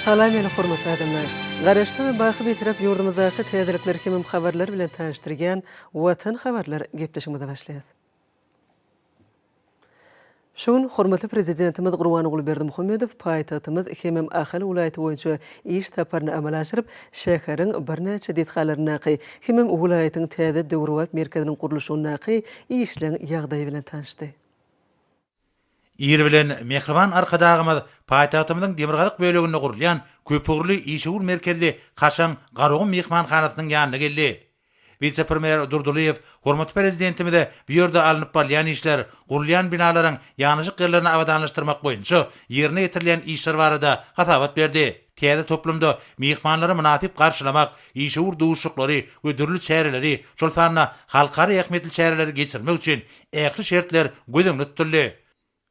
Salam meni hormatly adamlar! Garaşsyz we baky Bitarap ýurdumyzdaky täzelikler hemem habarlar bilen tanyşdyrýan Watan habarlar gepleşigimize başlaýas. Şu gün hormatly Prezidentimiz Gurbanguly Berdimuhamedow paýtagtymyz hemem Ahal welaýaty boýunça iş saparyny amala aşyryp, şäheriň birnäçe desgalaryndaky hemem welaýatyň täze döwrebap merkeziniň gurluşygyndaky işleň ýagdaýy bilen tanyşdy. Ir bilen mähriban Arkadagymyz paýtagtymyzyň demirgazyk böleginde gurulýan köpugurly işewür merkezli kaşaň Garagum myhmanhanasynyň ýanyna geldi Wise-premýer Durdylyýew hormatly Prezidentimize bu ýerde alnyp barylýan işler, gurulýan binalaryň ýanaşyk ýerlerini abadanlaşdyrmak boýunça ýerine ýetirilýän işler barada hasabat berdi. Täze toplumda myhmanlary mynasyp garşylamak, işewür duşuşyklary we dürli çäreleri, şol sanda halkara ähmiýetli çäreleri geçirmek üçin ähli şertler göz öňünde tutuldy.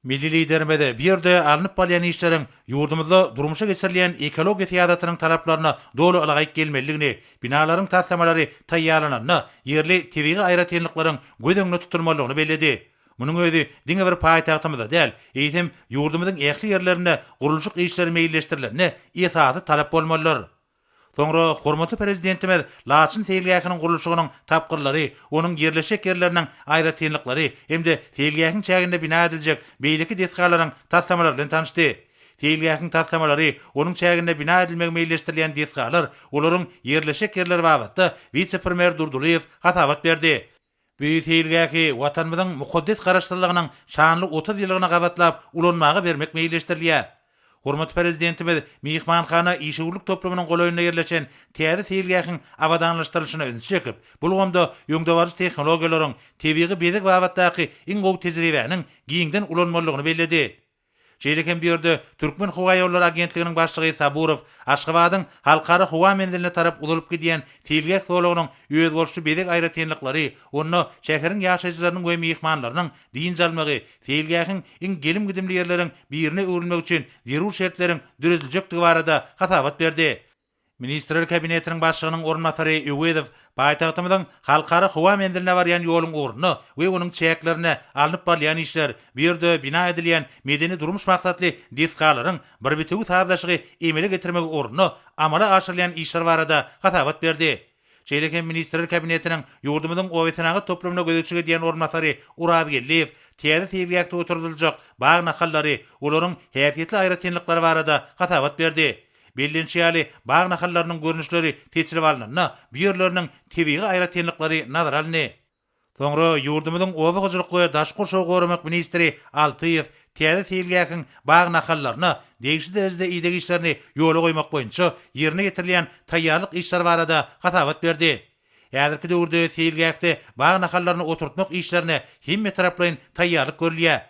Milli Liderimiz bu ýerde alnyp barylýan işleriň ýurdumyzda durmuşa geçirilýän ekologiýa syýasatynyň talaplaryna doly ylaýyk gelmelidigini, binalaryň taslamalary taýýarlananda ýerli tebigy aýratynlyklaryň göz öňünde tutulmalydygyny belledi. Munuň özi diňe bir paýtagtymyzda däl, eýsem, ýurdumyzyň ähli ýerlerinde gurluşyk işleri meýilleşdirilende esasy talap bolmalydyr. Soňra hormatly Prezidentimiz Laçyn seýilgähiniň gurluşygynyň tapgyrlary, onuň ýerleşjek ýerleriniň aýratynlyklary hem-de seýilgähiň çäginde bina ediljek beýleki desgalaryň taslamalary bilen tanyşdy. Seýilgähiň taslamalary, onuň çäginde bina edilmegi meýilleşdirilýän desgalar, olaryň ýerleşjek ýerleri babatda wise-premýer Durdylyýew hasabat berdi. Bu seýilgähi Watanymyzyň mukaddes Garaşsyzlygynyň şanly otuz ýyllygyna gabatlap ulanmaga bermek meýilleşdirilýär. Hormatly Prezidentimiz myhmanhana işewürlik toplumynyň golaýynda ýerleşen täze seýilgähiň abadanlaşdyrylyşyna ünsi çekip, bu ulgamda öňdebaryjy tehnologiýalaryň, tebigy bezeg babatdaky iň gowy tejribäniň giňden ulanmalydygyny belledi. Şeýle hem bu ýerde Türkmenhowaýollary agentliginiň başlygy Saburow Aşgabadyň Halkara howa menziline tarap uzalyp gidýän seýilgäh zolagynyň özboluşly bezeg aýratynlyklary, onda şäheriň ýaşaýjylarynyň we myhmanlarynyň dynç almagy, seýilgähiň iň gelim-gidimli ýerleriň birine öwrülmegi üçin zerur şertleriň dörediljekdigi barada hasabat berdi. Ministrler Kabinetiniň Başlygynyň orunbasary Öwezow paýtagtymyzyň Halkara howa menziline barýan ýoluň ugrunda we onuň çäklerinde alnyp barylýan işler, bu ýerde bina edilýän medeni-durmuş maksatly desgalaryň bir bitewi sazlaşygy emele getirmegi ugrunda amala aşyrylýan işler barada hasabat berdi. Şeýle hem Ministrler Kabinetiniň ýurdumyzyň obasenagat toplumyna gözegçilik edýän orunbasary Oraz Geldiýew täze seýilgähde oturdyljak bag nahallary, olaryň häsiýetli aýratynlyklary barada hasabat berdi. Bellenişi ýaly, bag nahallarynyň görnüşleri seçilip alnanda, bu ýerleriniň tebigy aýratynlyklary nazara alyndy. Soňra ýurdumyzyň oba hojalyk we daşky gurşawy goramak ministri Altyýew täze seýilgähiň bag nahallaryna degişli derejede ideg işlerini ýola goýmak boýunça ýerine ýetirilýän taýýarlyk işleri barada hasabat berdi. Häzirki döwürde seýilgähde bag nahallaryny oturtmak işlerine hemmetaraplaýyn taýýarlyk görülýär.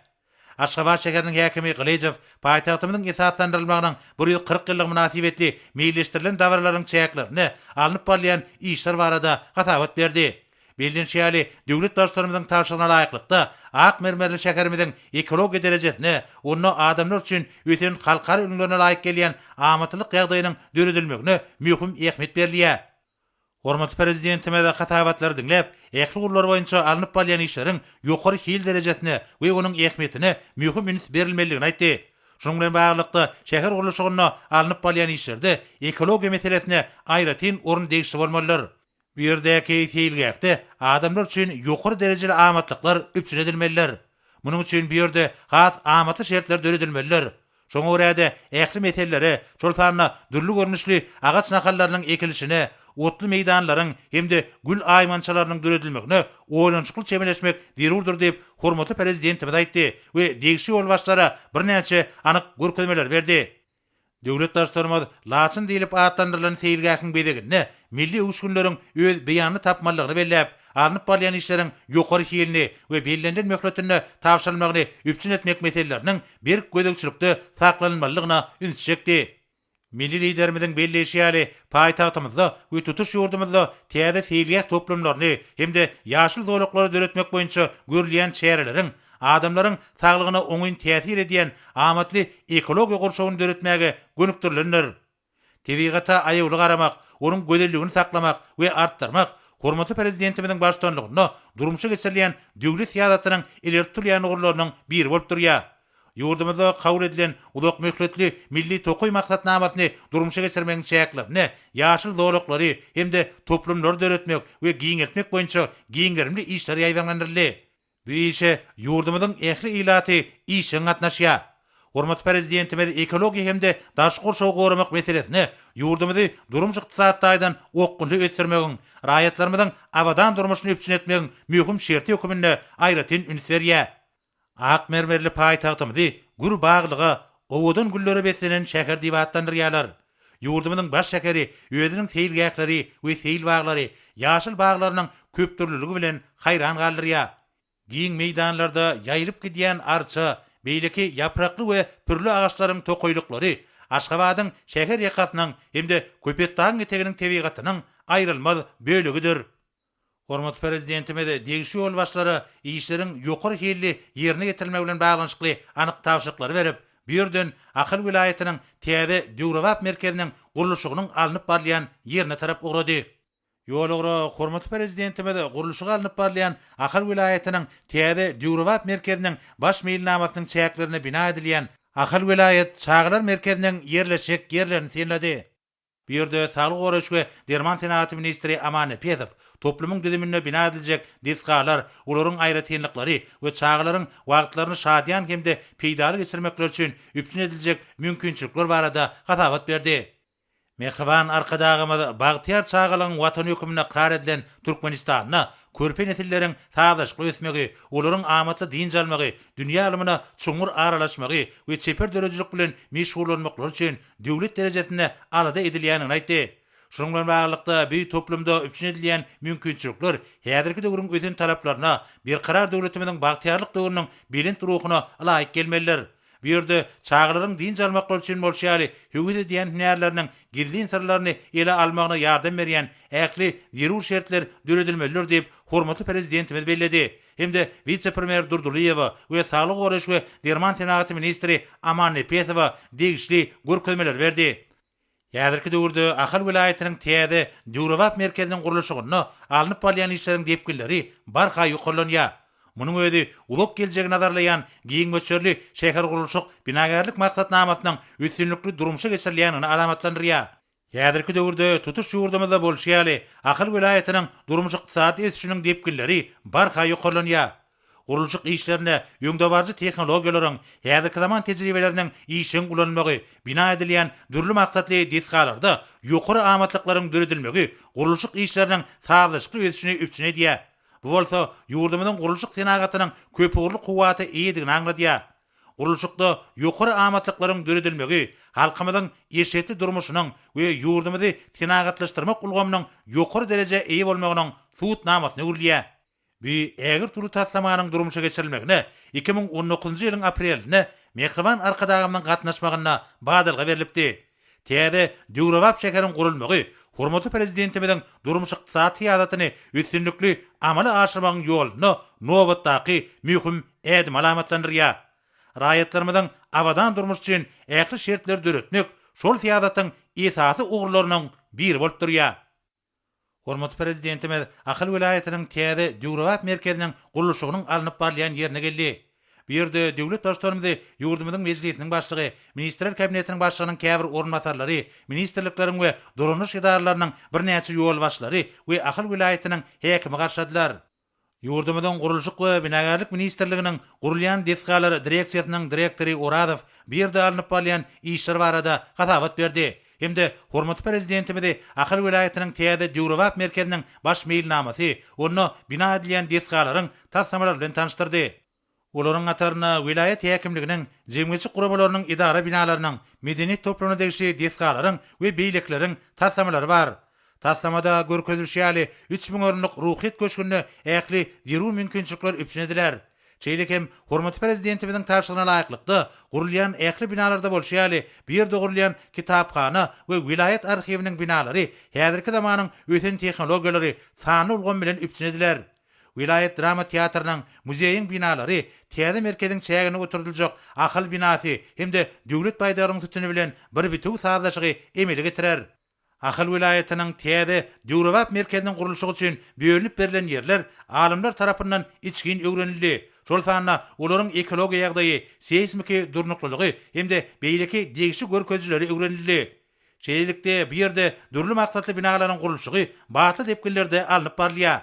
Aşgabat şäheriniň häkimi Gylyjow paýtagtymyzyň esaslandyrylmagynyň bir ýüz kyrk ýyllygy mynasybetli meýilleşdirilen dabaralaryň çäklerinde alnyp barylýan işler barada hasabat berdi. Bellenişi ýaly, döwlet Baştutanymyzyň tabşyrygyna laýyklykda, ak mermerli şäherimiziň ekologiýa derejesine, onda adamlar üçin ösen halkara ülňülerine laýyk gelýän amatlylyk ýagdaýynyň döredilmegine möhüm ähmiýet berilýär. Hormatly Prezidentimiz hasabatlary diňläp, ähli ugurlar boýunça alnyp barylýan işleriň ýokary hil derejesine we onuň ähmiýetine möhüm üns berilmelidigini aýtdy. Şunuň bilen baglylykda, şäher gurluşygynda alnyp barylýan işlerde ekologiýa meselesine aýratyn orun degişli bolmalydyr. Bu ýerdäki seýilgähde adamlar üçin ýokary derejeli amatlyklar üpjün edilmelidir. Munuň üçin bu ýerde has amatly şertler döredilmelidir. Şoňa görä-de, ähli meselelere, şol sanda dürli görnüşli agaç nahallarynyň ekilişine, otly meýdanlaryň hem-de gül aýmançalarynyň döredilmegine oýlanyşykly çemeleşmek zerurdyr diýip, hormatly Prezidentimiz aýtdy we degişli ýolbaşçylara birnäçe anyk görkezmeleri berdi. Döwlet Baştutanymyz Laçyn diýlip atlandyrylan seýilgähiň bezeginde milli öwüşginleriň öz beýanyny tapmalydygyny belläp, alnyp barylýan işleriň ýokary hilini we bellenilen möhletinde tabşyrylmagyny üpjün etmek meseleleriniň berk gözegçilikde saklanylmalydygyna üns çekdi. Milli Liderimiziň belleýşi ýaly, paýtagtymyzda we tutuş ýurdumyzda täze seýilgäh toplumlaryny hem-de ýaşyl zolaklary döretmek boýunça görülýän çäreleriň adamlaryň saglygyna oňyn täsir edýän amatly ekologiýa gurşawyny döretmäge gönükdirilendir. Tebigata aýawly garamak, onuň gözelligini saklamak we artdyrmak hormatly Prezidentimiziň baştutanlygynda durmuşa geçirilýän döwlet syýasatynyň ileri tutulýan ugurlarynyň biri bolup durýar. Ýurdumyzda kabul edilen uzakmöhletli Milli tokaý maksatnamasyny durmuşa geçirmegiň çäklerinde ýaşyl zolaklary hem-de toplumlary döretmek we giňeltmek boýunça giň gerimli işler ýaýbaňlandyryldy. Bu işe ýurdumyzyň ähli ilaty işjeň gatnaşýar. Hormatly Prezidentimiz ekologiýa hem-de daşky gurşawy goramak meselesine ýurdumyzy durmuş-ykdysady taýdan okgunly ösdürmegiň, raýatlarymyzyň abadan durmuşyny üpjün etmegiň möhüm şerti höküminde aýratyn üns berýär. Ak mermerli paýtagtymyzy gür baglyga, owadan güllere beslenen şäher diýip atlandyrýarlar. Ýurdumyzyň baş şäheri özüniň seýilgähleri we seýil baglary, ýaşyl baglarynyň köpdürlüligi bilen haýran galdyrýar. Giň meýdanlarda ýaýylyp gidýän arça, beýleki ýaprakly we pürli agaçlaryň tokaýlyklary Aşgabadyň şäher ýakasynyň hem-de Köpetdagyň eteginiň tebigatynyň aýrylmaz bölegidir. Hormatly Prezidentimiz degişli ýolbaşçylara işleriň ýokary hilli ýerine ýetirilmegi bilen baglanyşykly anyk tabşyryklary berip, bu ýerden Ahal welaýatynyň täze döwrebap merkeziniň gurluşygynyň alnyp barylýan ýerine tarap ugrady. Ýol ugra hormatly Prezidentimiz gurluşygy alnyp barylýan Ahal welaýatynyň täze döwrebap merkeziniň baş meýilnamasynyň çäklerinde bina edilýän Ahal welaýat çagalar merkeziniň ýerleşjek ýerlerini synlady. Bu ýerde Saglygy goraýyş we derman senagaty ministri Aman Nepesow toplumyň düzüminde bina ediljek desgalar, olaryň aýratynlyklary we çagalaryň wagtlaryny şadyýan hem-de peýdaly geçirmekleri üçin üpjün ediljek mümkinçilikler barada hasabat berdi. Mähriban Arkadagymyz bagtyýar çagalygyň Watany hökmünde ykrar edilen Türkmenistanda körpe nesilleriň sazlaşykly ösmegi, olaryň amatly dynç almagy, dünýä ylmyna çuňňur aralaşmagy we çeper döredijilik bilen meşgullanmaklary üçin döwlet derejesinde alada edilýändigini aýtdy. Şunuň bilen baglylykda, bu toplumda üpjün edilýän mümkinçilikler häzirki döwrüň ösen talaplaryna, berkarar döwletimiziň bagtyýarlyk döwrüniň belent ruhuna laýyk gelmelidir. Bu ýerde çagalaryň dynç almaklary üçin bolşy ýaly höwes edýän hünärleriniň gizlin syrlaryny ele almagyna ýardam berýän ähli zerur şertler döredilmelidir diýip, hormatly Prezidentimiz belledi. hem-de wise-premýer Durdylyýewa we saglygy goraýyş we derman senagaty ministri Aman Nepesowa degişli görkezmeleri berdi. Häzirki döwürde Ahal welaýatynyň täze, döwrebap merkeziniň gurluşygynda alnyp barylýan işleriň depginleri barha ýokarlanýar. Munuň özi uzak geljegi nazarlaýan giň möçberli şähergurluşyk-binagärlik maksatnamasynyň üstünlikli durmuşa geçirilýändigini alamatlandyrýar. Häzirki döwürde tutuş ýurdumyzda bolşy ýaly, Ahal welaýatynyň durmuş-ykdysady ösüşiniň depginleri barha ýokarlanýar. Gurluşyk işlerinde öňdebaryjy tehnologiýalaryň, häzirki zaman tejribeleriniň işjeň ulanylmagy, bina edilýän dürli maksatly desgalarda ýokary amatlyklaryň döredilmegi gurluşyk işleriniň sazlaşykly ösüşini üpjün edýär. Bu bolsa ýurdumyzyň gurluşyk senagatynyň köpugurly kuwwata eýedigini aňladýar. Gurluşykda ýokary amatlyklaryň döredilmegi halkymyzyň eşretli durmuşynyň we ýurdumyzy senagatlaşdyrmak ulgamynyň ýokary derejä eýe bolmagynyň subut namasyna öwrülýär. Bu ägirt uly taslamanyň durmuşa geçirilmegine iki müň on dokuzynjy ýylyň aprelinde mähriban Arkadagymyzyň gatnaşmagynda badalga berlipdi. Täze, döwrebap şäheriň gurulmagy hormatly Prezidentimiziň durmuş-ykdysady syýasatyny üstünlikli amala aşyrmagyň ýolunda nobatdaky möhüm ädimi alamatlandyrýar. Raýatlarymyzyň abadan durmuşy üçin ähli şertleri döretmek şol syýasatyň esasy ugurlarynyň biri bolup durýar. Hormatly Prezidentimiz Ahal welaýatynyň täze döwrebap merkeziniň gurluşygynyň alnyp barylýan ýerine geldi. Bu ýerde döwlet Baştutanymyzy ýurdumyzyň Mejlisiniň Başlygy, Ministrler Kabinetiniň Başlygynyň käbir orunbasarlary, ministrlikleriň we dolanyş edaralarynyň birnäçe ýolbaşçylary we Ahal welaýatynyň häkimi garşyladylar. Ýurdumyzyň Gurluşyk we binagärlik ministrliginiň Gurulýan desgalar direksiýasynyň direktory Orazow bu ýerde alnyp barylýan işler barada hasabat berdi hem-de hormatly Prezidentimizi Ahal welaýatynyň täze döwrebap merkeziniň baş meýilnamasy, onda bina edilýän desgalaryň taslamalary bilen tanyşdyrdy. Olaryň hatarynda welaýat häkimliginiň, jemgyýetçilik guramalarynyň edara binalarynyň, medeniýet toplumyna degişli desgalaryň we beýlekileriň taslamalary bar. Taslamada görkezilişi ýaly, üç müň orunlyk Ruhyýet köşgünde ähli zerur mümkinçilikler üpjün ediler. Şeýle hem, hormatly Prezidentimiziň tabşyrygyna laýyklykda, gurulýan ähli binalarda bolşy ýaly, bu ýerde gurulýan kitaphana we welaýat arhiwiniň binalary häzirki zamanyň ösen tehnologiýalary, sanly ulgam bilen üpjün ediler. Welaýat drama teatrynyň, muzeýiň binalary, täze merkeziň çäginde oturdyljak Ahal binasy hem-de Döwlet baýdagynyň sütüni bilen bir bitewi sazlaşygy emele getirer. Ahal welaýatynyň täze, döwrebap merkeziniň gurluşygy üçin bölünip berlen ýerler alymlar tarapyndan içgin öwrenildi, şol sanda olaryň ekologiýa ýagdaýy, seýsmiki durnuklylygy hem-de beýleki degişli görkezijileri öwrenildi. Şeýlelikde, bu ýerde dürli maksatly binalaryň gurluşygy batly depginlerde alnyp barylýar.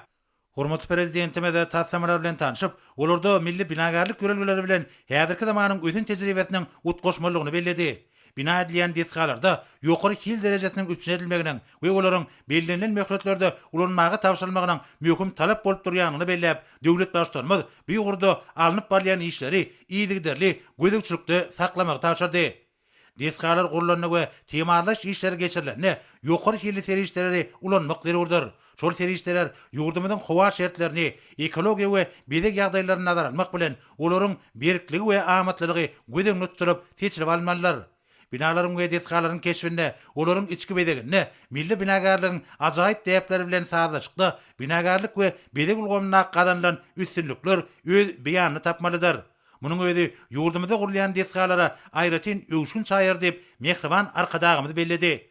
Hormatly Prezidentimiz taslamalar bilen tanşyp, olarda milli binagärlik ýörelgeleri bilen häzirki zamanyň ösen tejribesiniň utgaşmalydygyny belledi. Bina edilýän desgalarda ýokary hil derejesiniň üpjün edilmeginiň we olaryň bellenilen möhletlerde ulanmaga tabşyrylmagynyň möhüm talap bolup durýandygyny belläp, döwlet Baştutanymyz bu ugurda alnyp barylýan işleri yzygiderli gözegçilikde saklamagy tabşyrdy. Desgalar gurlanda we timarlaýyş işleri geçirilende ýokary hilli serişdeleri ulanmak zerurdyr. Şol serişdeler ýurdumyzyň howa şertlerini, ekologiýa we bezeg ýagdaýlaryny nazara almak bilen, olaryň berkligi we amatlylygy göz öňünde tutulyp seçilip alynmalydyr. Binalaryň we desgalaryň keşbinde, olaryň içki bezeginde milli binagärligiň ajaýyp däpleri bilen sazlaşykda binagärlik we bezeg ulgamynda gazanylan üstünlikler öz beýanyny tapmalydyr. Munuň özi ýurdumyzda gurulýan desgalara aýratyn öwüşgin çaýar diýip, mähriban Arkadagymyz belledi.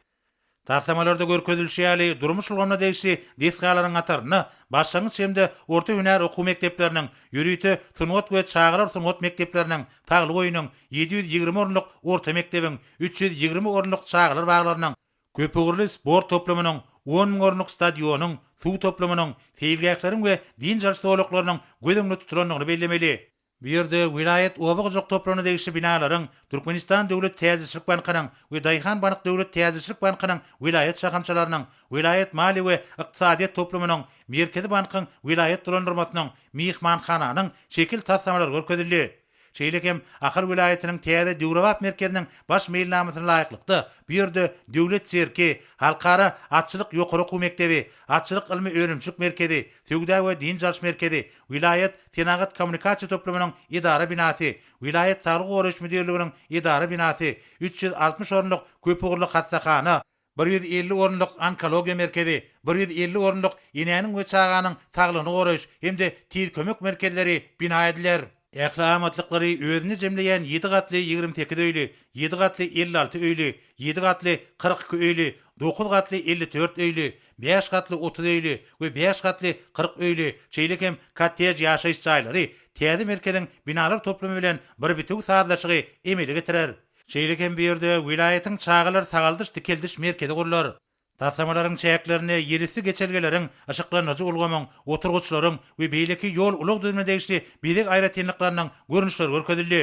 Taslamalarda görkezilişi ýaly, durmuş ulgamyna degişli desgalaryň hatarynda başlangyç hem-de orta hünär okuw mekdepleriniň, ýörite sungat we çagalar sungat mekdepleriniň, Taglygoýunyň, ýedi ýüz ýigrimi orunlyk orta mekdebiň, üç ýüz ýigrimi orunlyk çagalar baglarynyň, Köpugurly sport toplumynyň, on müň orunlyk stadionyň, suw toplumynyň, seýilgähleriň we dynç alyş zolaklarynyň göz öňünde tutulandygyny bellemeli. Bu ýerde welaýat oba hojalyk toplumyna degişli binalaryň, Türkmenistan Döwlet täjirçilik bankynyň we Daýhan bank döwlet täjirçilik bankynyň welaýat şahamçalarynyň, welaýat maliýe we ykdysadyýet toplumynyň, Merkezi bankyň welaýat dolandyrmasynyň, myhmanhananyň şekil taslamalary görkezildi. Şeýle hem Ahal welaýatynyň täze döwrebap merkeziniň baş meýilnamasyna laýyklykda, bu ýerde Döwlet sirki, Halkara atçylyk ýokary okuw mekdebi, Atçylyk ylmy-önümçilik merkezi, Söwda we dynç alyş merkezi, Welaýat senagat-kommunikasiýa toplumynyň edara binasy, Welaýat saglygy goraýyş müdirliginiň edara binasy, üç ýüz altmyş orunlyk köpugurly hassahana, bir ýüz elli orunlyk onkologiýa merkezi, bir ýüz elli orunlyk enäniň we çaganyň saglygyny goraýyş hem-de tiz kömek merkezleri bina ediler. Ähli amatlyklary özünde jemleýän ýedi gatly ýigrimi sekiz öýli, ýedi gatly elli alty öýli, ýedi gatly kyrk iki öýli, dokuz gatly elli dört öýli, bäş gatly otuz öýli we bäş gatly kyrk öýli, şeýle hem kottej ýaşaýyş jaýlary täze merkeziň binalar toplumy bilen bir bitewi sazlaşygy emele getirer. Şeýle hem bu ýerde welaýatyň çagalar sagaldyş-dikeldiş merkezi gurlar. Taslamalaryň çäklerinde ýerüsti geçelgeleriň, yşyklandyryjy ulgamyň, oturgyçlaryň we beýleki ýol-ulag düzümine degişli bezeg aýratynlyklarynyň görnüşleri görkezildi.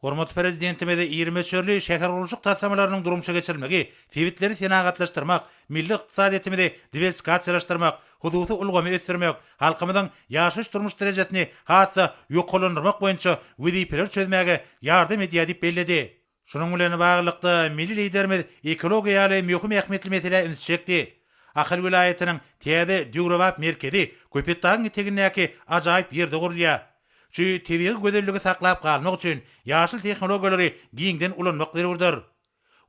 Hormatly Prezidentimiz iri möçberli şähergurluşyk taslamalarynyň durmuşa geçirilmegi sebitleri senagatlaşdyrmak, milli ykdysadyýetimizi diwersikasiýalaşdyrmak, hususy ulgamy ösdürmek, halkymyzyň ýaşaýyş-durmuş derejesini has-da ýokarlandyrmak boýunça wezipeleri çözmäge ýardam edýär diýip belledi. Şunuň bilen baglylykda, milli Liderimiz ekologiýa ýaly möhüm ähmiýetli meselä ünsi çekdi. Ahal welaýatynyň täze döwrebap merkezi Köpetdagyň etegindäki ajaýyp ýerde gurulýar. Şu tebigy gözelligi saklap galmak üçin ýaşyl tehnologiýalary giňden ulanmak zerurdyr.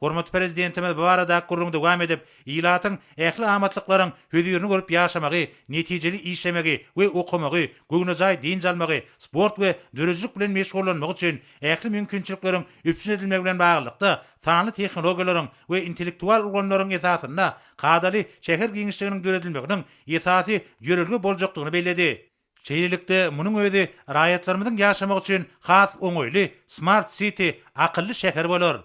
Hormatly Prezidentimiz bu baradaky gürrüňi dowam edip, ilatyň ähli amatlyklaryň hözirini görüp ýaşamagy, netijeli işlemegi we okamagy, göwnejaý dynç almagy, sport we döredijilik bilen meşgullanmagy üçin ähli mümkinçilikleriň üpjün edilmegi bilen baglylykda, sanly tehnologiýalaryň we intellektual ulgamlaryň esasynda kadaly şäher giňişliginiň döredilmeginiň esasy ýörelge boljakdygyny belledi. Şeýlelikde, munuň özi raýatlarymyzyň ýaşamagy üçin has oňaýly Smart City, Akylly şäher, bolar.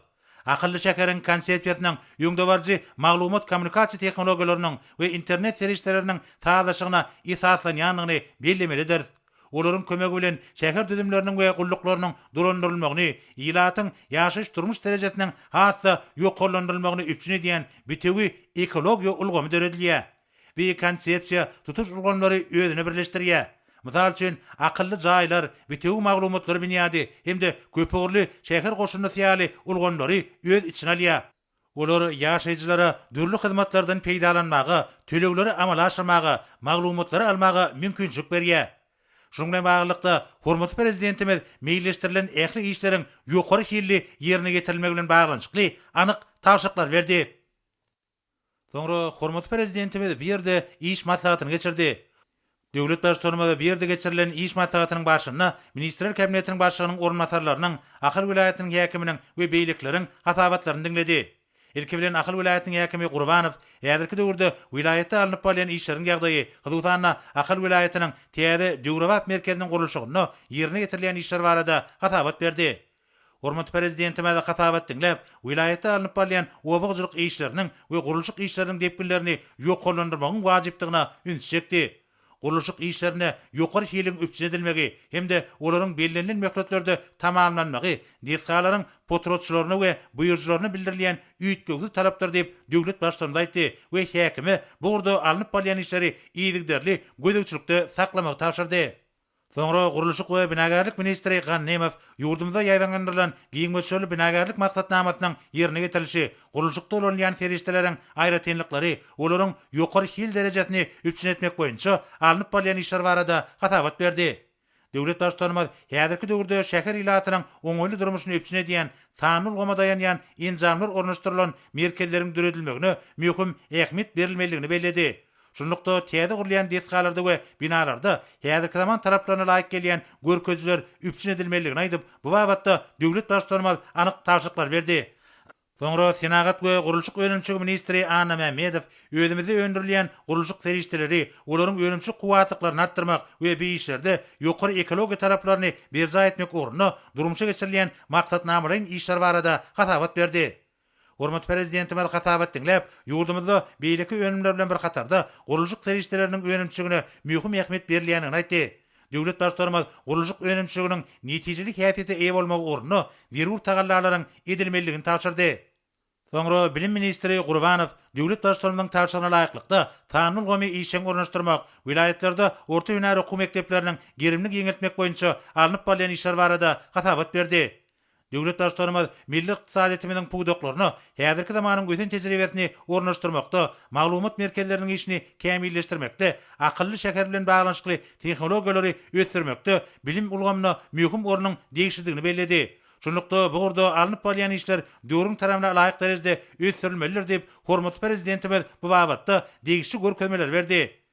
Akylly şäheriň konsepsiýasynyň öňdebaryjy maglumat-kommunikasiýa tehnologiýalarynyň we internet serişdeleriniň sazlaşygyna esaslanýandygyny bellemelidiris. Olaryň kömegi bilen şäher düzümleriniň we gulluklarynyň dolandyrylmagyny, ilatyň ýaşaýyş-durmuş derejesiniň has-da ýokarlandyrylmagyny üpjün edýän bitewi ekologiýa ulgamy döredilýär. Beýik konsepsiýa tutuş ulgamlary özüne birleşdirýär. Mysal üçin, akylly jaýlar, bitewi maglumatlar binýady hem-de köpugurly şäher goşundysy ýaly ulgamlary öz içine alýar. Olar ýaşaýjylara dürli hyzmatlardan peýdalanmaga, tölegleri amala aşyrmaga, maglumatlary almaga mümkinçilik berýär. Şunuň bilen baglylykda, hormatly Prezidentimiz meýilleşdirilen ähli işleriň ýokary hilli ýerine ýetirilmegi bilen baglanyşykly anyk tabşyryklar berdi. Soňra hormatly Prezidentimiz bu ýerde iş maslahatyny geçirdi. Döwlet Baştutanymyz bu ýerde geçirilen iş maslahatynyň barşynda Ministrler Kabinetiniň Başlygynyň orunbasarlarynyň, Ahal welaýatynyň häkiminiň we beýlekileriň hasabatlaryny diňledi. Ilki bilen Ahal welaýatynyň häkimi Gurbanow häzirki döwürde welaýatda alnyp barylýan işleriň ýagdaýy, hususan-da, Ahal welaýatynyň täze döwrebap merkeziniň gurluşygynda ýerine ýetirilýän işler barada hasabat berdi. Hormatly Prezidentimiz hasabat diňläp, welaýatda alnyp barylýan oba hojalyk işleriniň we gurluşyk işleriniň depginlerini ýokarlandyrmagyň wajypdygyna ünsi çekdi. Gurluşyk işlerinde ýokary hiliň üpjün edilmegi hem-de olaryň bellenilen möhletlerde tamamlanmagy desgalaryň potratçylaryna we buýrujylaryna bildirilýän üýtgewsiz talapdyr diýip, döwlet Baştutanymyz aýtdy we häkime bu ugurda alnyp barylýan işleri yzygiderli gözegçilikde saklamagy tabşyrdy. Soňra gurluşyk we binagärlik ministri Gannymow ýurdumyzda ýaýbaňlandyrylan giň möçberli binagärlik maksatnamasynyň ýerine ýetirilişi, gurluşykda ulanylýan serişdeleriň aýratynlyklary, olaryň ýokary hil derejesini üpjün etmek boýunça alnyp barylýan işler barada hasabat berdi. Döwlet Baştutanymyz häzirki döwürde şäher ilatynyň oňaýly durmuşyny üpjün edýän, sanly ulgama daýanýan enjamlar ornaşdyrylan merkezleriň döredilmegine möhüm ähmiýet berilmelidigini belledi. Şunlukda, täze gurulýan desgalarda we binalarda häzirki zaman talaplaryna laýyk gelýän görkezijiler üpjün edilmelidigini aýdyp, bu babatda döwlet Baştutanymyz anyk tabşyryklar berdi. Soňra senagat we gurluşyk önümçiligi ministri Anna Mämmedow özümizde öndürilýän gurluşyk serişdeleri, olaryň önümçilik kuwwatlyklaryny artdyrmak we bi işlerde ýokary ekologiýa talaplaryny berjaý etmek ugrunda durmuşa geçirilýän maksatnamalaýyn işler barada hasabat berdi. Hormatly Prezidentimiz hasabat diňläp, ýurdumyzda beýleki önümler bilen bir hatarda, gurluşyk serişdeleriniň önümçiligine möhüm ähmiýet berilýändigini aýtdy. Döwlet Baştutanymyz gurluşyk önümçiliginiň netijeli häsiýete eýe bolmagy ugrunda zerur tagallalaryň edilmelidigini tabşyrdy. Soňra bilim ministri Gurbanow döwlet Baştutanymyzyň tabşyrygyna laýyklykda, sanly ulgamy işjeň ornaşdyrmak, welaýatlarda orta hünär okuw mekdepleriniň gerimini giňeltmek boýunça alnyp barylýan işler barada hasabat berdi. Döwlet Baştutanymyz milli ykdysadyýetimiziň pudaklaryna häzirki zamanyň ösen tejribesini ornaşdyrmakda, maglumat merkezleriniň işini kämilleşdirmekde, akylly şäher bilen baglanyşykly tehnologiýalary ösdürmekde bilim ulgamyna möhüm ornuň degişlidigini belledi. Şunlukda, bu ugurda alnyp barylýan işler döwrüň talabna laýyk derejede ösdürilmelidir diýip, hormatly Prezidentimiz bu babatda degişli görkezmeleri berdi.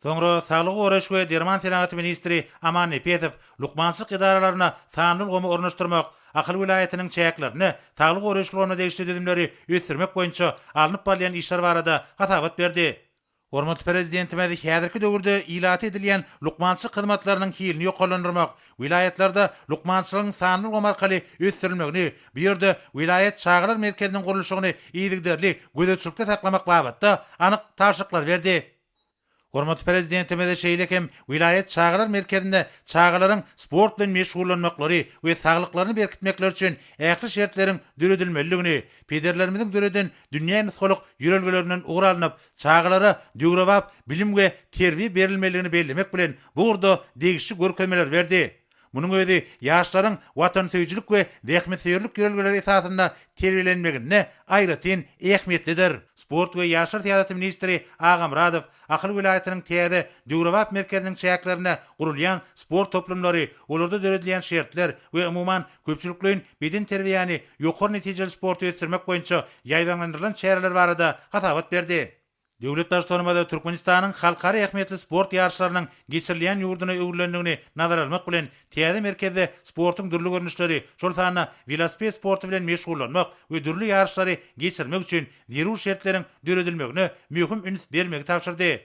Soňra saglygy goraýyş we derman senagaty ministri Aman Nepesow lukmançylyk edaralaryna sanly ulgamy ornaşdyrmak, Ahal welaýatynyň çäklerinde saglygy goraýyş ulgamyna degişli düzümleri ösdürmek boýunça alnyp barylýan işler barada hasabat berdi. Hormatly Prezidentimiz häzirki döwürde ilata edilýän lukmançylyk hyzmatlarynyň hilini ýokarlandyrmak, welaýatlarda lukmançylygyň sanly ulgam arkaly ösdürilmegini, bu ýerde welaýat çagalar merkeziniň gurluşygyny yzygiderli gözegçilikde saklamak babatda anyk tabşyryklary berdi. Hormatly Prezidentimize şeýle hem welaýat çagalar merkezinde çagalaryň sport bilen meşgullanmaklary we saglyklaryny berkitmekleri üçin ähli şertleriň döredilmelidigini, pederlerimiziň döreden dünýä nusgalyk ýörelgelerinden ugur alnyp, çagalara döwrebap bilim we terbiýe berilmelidigini bellemek bilen, bu ugurda degişli görkezmeleri berdi. Munuň özi ýaşlaryň watansöýüjilik we zähmetsöýerlik ýörelgeleri esasynda terbiýelenmeginde aýratyn ähmiýetlidir. Sport we ýaşlar syýasaty ministri Agamyradow Ahal welaýatynyň täze döwrebap merkeziniň çäklerinde gurulýan sport toplumlary, olarda döredilýän şertler we umuman köpçülikleýin bedenterbiýäni, ýokary netijeli sporty ösdürmek boýunça ýaýbaňlandyrylan çäreler barada hasabat berdi. Döwlet Baştutanymyz Türkmenistanyň halkara ähmiýetli sport ýaryşlarynyň geçirilýän ýurduna öwrülendigini nazara almak bilen, täze merkezde sportuň dürli görnüşleri, şol sanda welosiped sporty bilen meşgullanmak we dürli ýaryşlary geçirmek üçin zerur şertleriň döredilmegine möhüm üns bermegi tabşyrdy.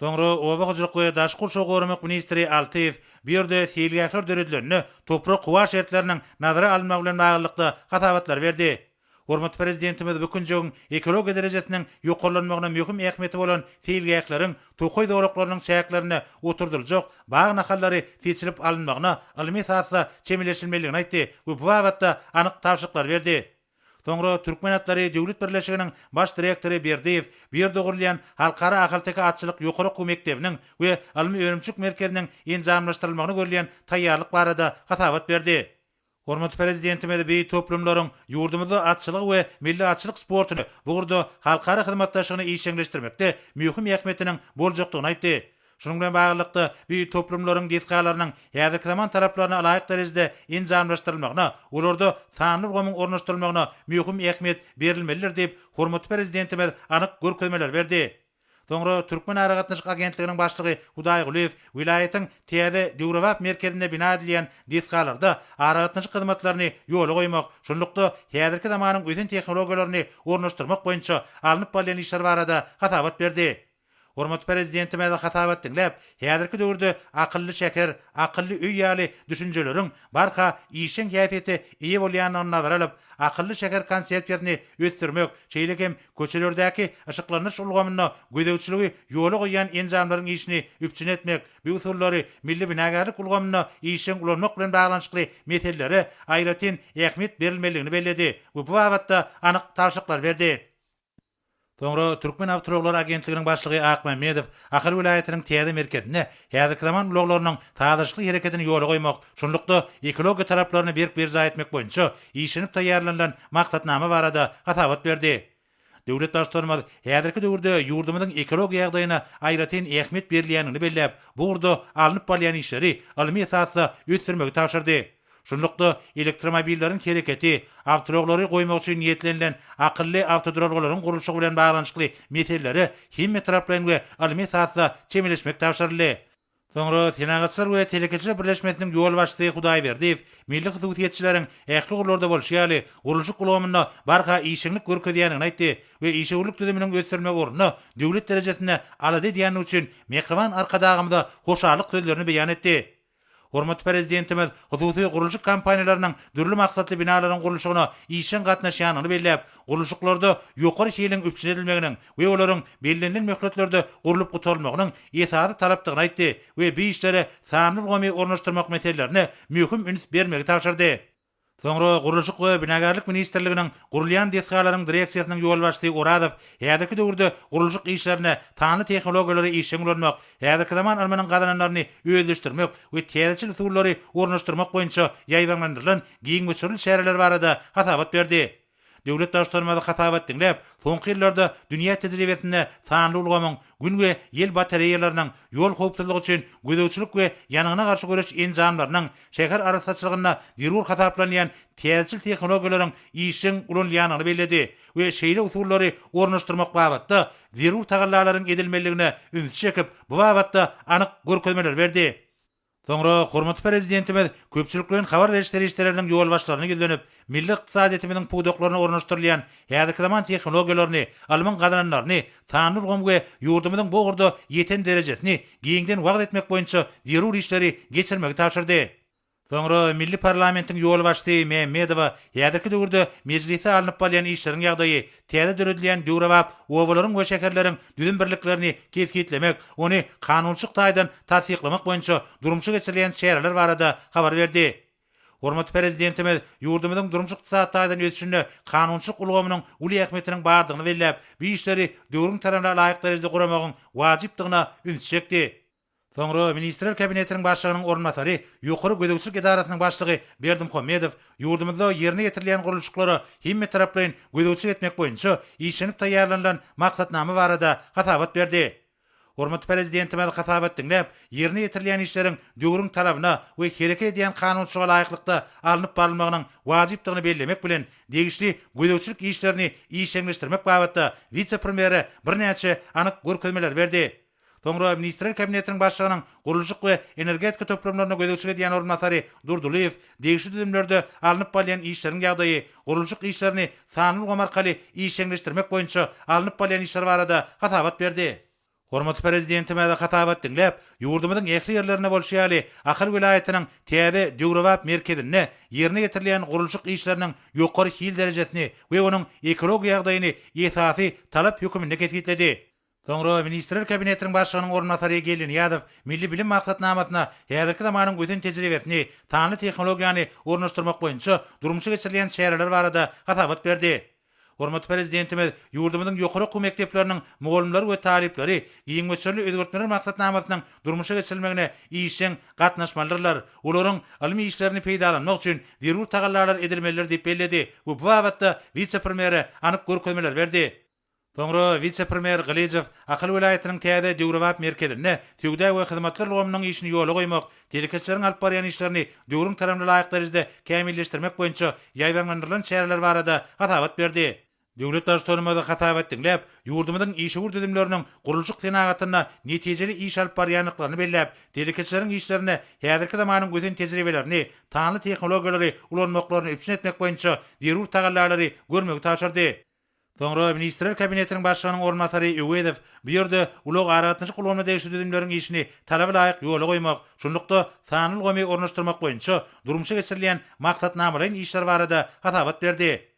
Soňra oba hojalyk we daşky gurşawy goramak ministri Altyýew bu ýerde seýilgähler döredilende toprak-howa şertleriniň nazara alynmagy bilen baglylykda hasabatlary berdi. Hormatly Prezidentimiz bu künjegiň ekologiýa derejesiniň ýokarlanmagyna möhüm ähmiýeti bolan seýilgähleriň tokaý zolaklarynyň çäklerinde oturdyljak bag nahallary seçilip alynmagyna ylmy esasda çemeleşilmelidigini aýtdy we bu babatda anyk tabşyryklary berdi. Soňra Türkmen atlary döwlet birleşiginiň baş direktory Berdiýew bu ýerde gurulýan Halkara ahalteke atçylyk ýokary okuw mekdebiniň we ylmy-önümçilik merkeziniň enjamlaşdyrylmagyna görülýän taýýarlyk barada hasabat berdi. Hormatly Prezidentimiz beýik toplumlaryň ýurdumyzda atçylygy we milli atçylyk sportuny, bu ugurda halkara hyzmatdaşlygyny işjeňleşdirmekde möhüm ähmiýetiniň boljakdygyny aýtdy. Şunuň bilen baglylykda, beýik toplumlaryň desgalarynyň häzirki zaman talaplaryna laýyk derejede enjamlaşdyrylmagyna, olarda sanly ulgamyň ornaşdyrylmagyna möhüm ähmiýet berilmelidir diýip, hormatly Prezidentimiz anyk görkezmeleri berdi. Soňra Türkmenaragatnaşyk agentliginiň başlygy Hudaý Gulyýew welaýatyň täze döwrebap merkezinde bina edilýän desgalarda aragatnaşyk hyzmatlaryny ýola goýmak, şunlukda, häzirki zamanyň ösen tehnologiýalaryny ornaşdyrmak boýunça alnyp barylýan işler barada hasabat berdi. Hormatly Prezidentimiz hasabat diňläp, häzirki döwürde akylly şäher, akylly öý ýaly düşünjeleriň barha işjeň häsiýete eýe bolýandygyny nazara alyp, akylly şäher konsepsiýasyny ösdürmek, şeýle hem Köçelerdäki yşyklanyş ulgamynda gözegçiligi ýola goýýan enjamlaryň işini üpjün etmek, bu usullary milli binagärlik ulgamynda işjeň ulanmak bilen baglanyşykly meselelere aýratyn ähmiýet berilmelidigini belledi we bu babatda anyk tabşyryklary berdi. Soňra Türkmenawtoulaglar agentliginiň başlygy Akmämmedow Ahal welaýatynyň täze merkezinde häzirki zaman ulaglarynyň sazlaşykly hereketini ýola goýmak, şunlukda ekologiýa talaplaryny berk berjaý etmek boýunça işlenip taýýarlanylan maksatnama barada hasabat berdi. Döwlet Baştutanymyz häzirki döwürde ýurdumyzyň ekologiýa ýagdaýyna aýratyn ähmiýet berilýändigini belläp, bu ugurda alnyp barylýan işleri ylmy esasda ösdürmegi tabşyrdy. Şunlukda, elektromobilleriň hereketi, awtoulaglary goýmak üçin niýetlenilen akylly awtoduralgalaryň gurluşygy bilen baglanyşykly meselelere hemmetaraplaýyn we ylmy esasda çemeleşmek tabşyryldy. Soňra Senagatçylar we telekeçiler birleşmesiniň ýolbaşçysy Hudaýberdiýew milli hususyýetçileriň ähli ugurlarda bolşy ýaly, gurluşyk ulgamynda barha işeňlik görkezýändigini aýtdy we işewürlik düzüminiň ösdürilmegi ugrunda döwlet derejesinde alada edýändigi üçin mähriban Arkadagymyza hoşallyk sözlerini beýan etdi. Hormatly Prezidentimiz hususy gurluşyk kompaniýalarynyň dürli maksatly binalaryň gurluşygyna işjeň gatnaşýandygyny belläp, gurluşyklarda ýokary hiliň üpjün edilmeginiň, we olaryň bellenilen möhletlerde gurlup gutarylmagynyň esasy talapdygyny aýtdy we bu işlere sanly ulgamy ornaşdyrmak meselelerine möhüm üns bermegi tabşyrdy. Soňra Gurluşyk we binagärlik ministrliginiň gurulýan desgalaryň direksiýasynyň ýolbaşçysy Orazow häzirki döwürde gurluşyk işlerinde sanly tehnologiýalary işjeň ulanmak, häzirki zaman ylmynyň gazananlaryny özleşdirmek we täzeçil usullary ornaşdyrmak boýunça ýaýbaňlandyrylan giň möçberli çäreler barada hasabat berdi. Döwlet Baştutanymyz hasabat diňläp, soňky ýyllarda dünýä tejribesinde sanly ulgamyň, Gün we ýel batareýalarynyň, ýol howpsuzlygy üçin gözegçilik we ýangyna garşy göreş enjamlarynyň, şäher arassaçylygynda zerur hasaplanýan täzeçil tehnologiýalaryň işjeň ulanylýandygyny belledi we şeýle usullary ornaşdyrmak babatda zerur tagallalaryň edilmelidigine ünsi çekip, bu babatda anyk görkezmeleri berdi. Soňra hormatly Prezidentimiz köpçülikleýin habar beriş serişdeleriniň ýolbaşçylaryna ýüzlenip, milli ykdysadyýetimiziň pudaklaryna ornaşdyrylan häzirki zaman tehnologiýalaryny, ylmyň gazananlaryny, sanly ulgamy we ýurdumyzyň bu ugurda ýeten derejesini giňden wagyz etmek boýunça zerur işleri geçirmegi tabşyrdy. Soňra milli parlamentiň ýolbaşçysy Mämmedowa häzirki döwürde Mejlisde alnyp barlan işleriň ýagdaýy, täze döredilýän döwrebap obalaryň we şäherleriň düzüm birliklerini kesgitlemek, ony kanunçylyk taýdan tassyklamak boýunça durmuşa geçirilýän çäreler barada habar berdi. Hormatly Prezidentimiz ýurdumyzyň durmuş-ykdysady taýdan ösüşinde kanunçylyk ulgamynyň uly ähmiýetiniň bardygyny belläp, bu işleri döwrüň talabyna laýyk derejede guramagyň wajypdygyna ünsi çekdi. Soňra Ministrler Kabinetiniň Başlygynyň orunbasary, Ýokary gözegçilik edarasynyň başlygy Berdimuhamedow ýurdumyzda ýerine ýetirilýän gurluşyklara hemmetaraplaýyn gözegçilik etmek boýunça işlenip taýýarlanylan maksatnama barada hasabat berdi. Hormatly Prezidentimiz hasabat diňläp, ýerine ýetirilýän işleriň döwrüň talabyna we hereket edýän kanunçylyga laýyklykda alnyp barylmagynyň wajypdygyny bellemek bilen, degişli gözegçilik işlerini işjeňleşdirmek babatda wise-premýere birnäçe anyk görkezmeleri berdi. Soňra Ministrler Kabinetiniň Başlygynyň gurluşyk we energetika toplumlaryna gözegçilik edýän orunbasary Durdylyýew degişli düzümlerde alnyp balýan işleriň ýagdaýy, gurluşyk işlerini sanly ulgam arkaly işjeňleşdirmek boýunça alnyp balýan işler barada hasabat berdi. Hormatly Prezidentimiz hasabat diňläp, ýurdumyzyň ähli ýerlerinde bolşy ýaly, Ahal welaýatynyň täze, döwrebap merkezinde ýerine ýetirilýän gurluşyk işleriniň ýokary hil derejesini we onuň ekologiýa ýagdaýyny esasy talap höküminde kesgitledi. Soňra Ministrler Kabinetiniň Başlygynyň orunbasary Geldi Nyýazow milli bilim maksatnamasyna häzirki zamanyň ösen tejribesini, sanly tehnologiýany ornaşdyrmak boýunça durmuşa geçirilýän çäreler barada hasabat berdi. Hormatly Prezidentimiz ýurdumyzyň ýokary okuw mekdepleriniň mugallymlary we talyplary giň möçberli özgertmeler maksatnamasynyň durmuşa geçirilmegine işjeň gatnaşmalydyrlar, olaryň ylmy işlerini peýdalanmak üçin zerur tagallalar edilmelidir diýip belledi we bu babatda wise-premýere anyk görkezmeler berdi. Soňra wise-premýer Gylyjow Ahal welaýatynyň täze döwrebap merkezinde söwda we hyzmatlar ulgamynyň işini ýola goýmak, telekeçileriň alyp barýan işlerini döwrüň talabyna laýyk derejede kämilleşdirmek boýunça ýaýbaňlandyrylan çäreler barada hasabat berdi. Döwlet Baştutanymyz hasabat diňläp, ýurdumyzyň işewür düzümleriniň gurluşyk senagatynda netijeli iş alyp barýandyklaryny belläp, telekeçileriň işlerinde häzirki zamanyň ösen tejribelerini, sanly tehnologiýalary ulanmaklaryny üpjün etmek boýunça zerur tagallalary görmegi tabşyrdy. Soňra Ministrler Kabinetiniň Başlygynyň orunbasary Öwezow bu ýerde ulag-aragatnaşyk ulgamyna degişli düzümleriň işini talaba laýyk ýola goýmak, şunlukda, sanly ulgamy ornaşdyrmak boýunça durmuşa geçirilýän maksatnamalaýyn işler barada hasabat berdi.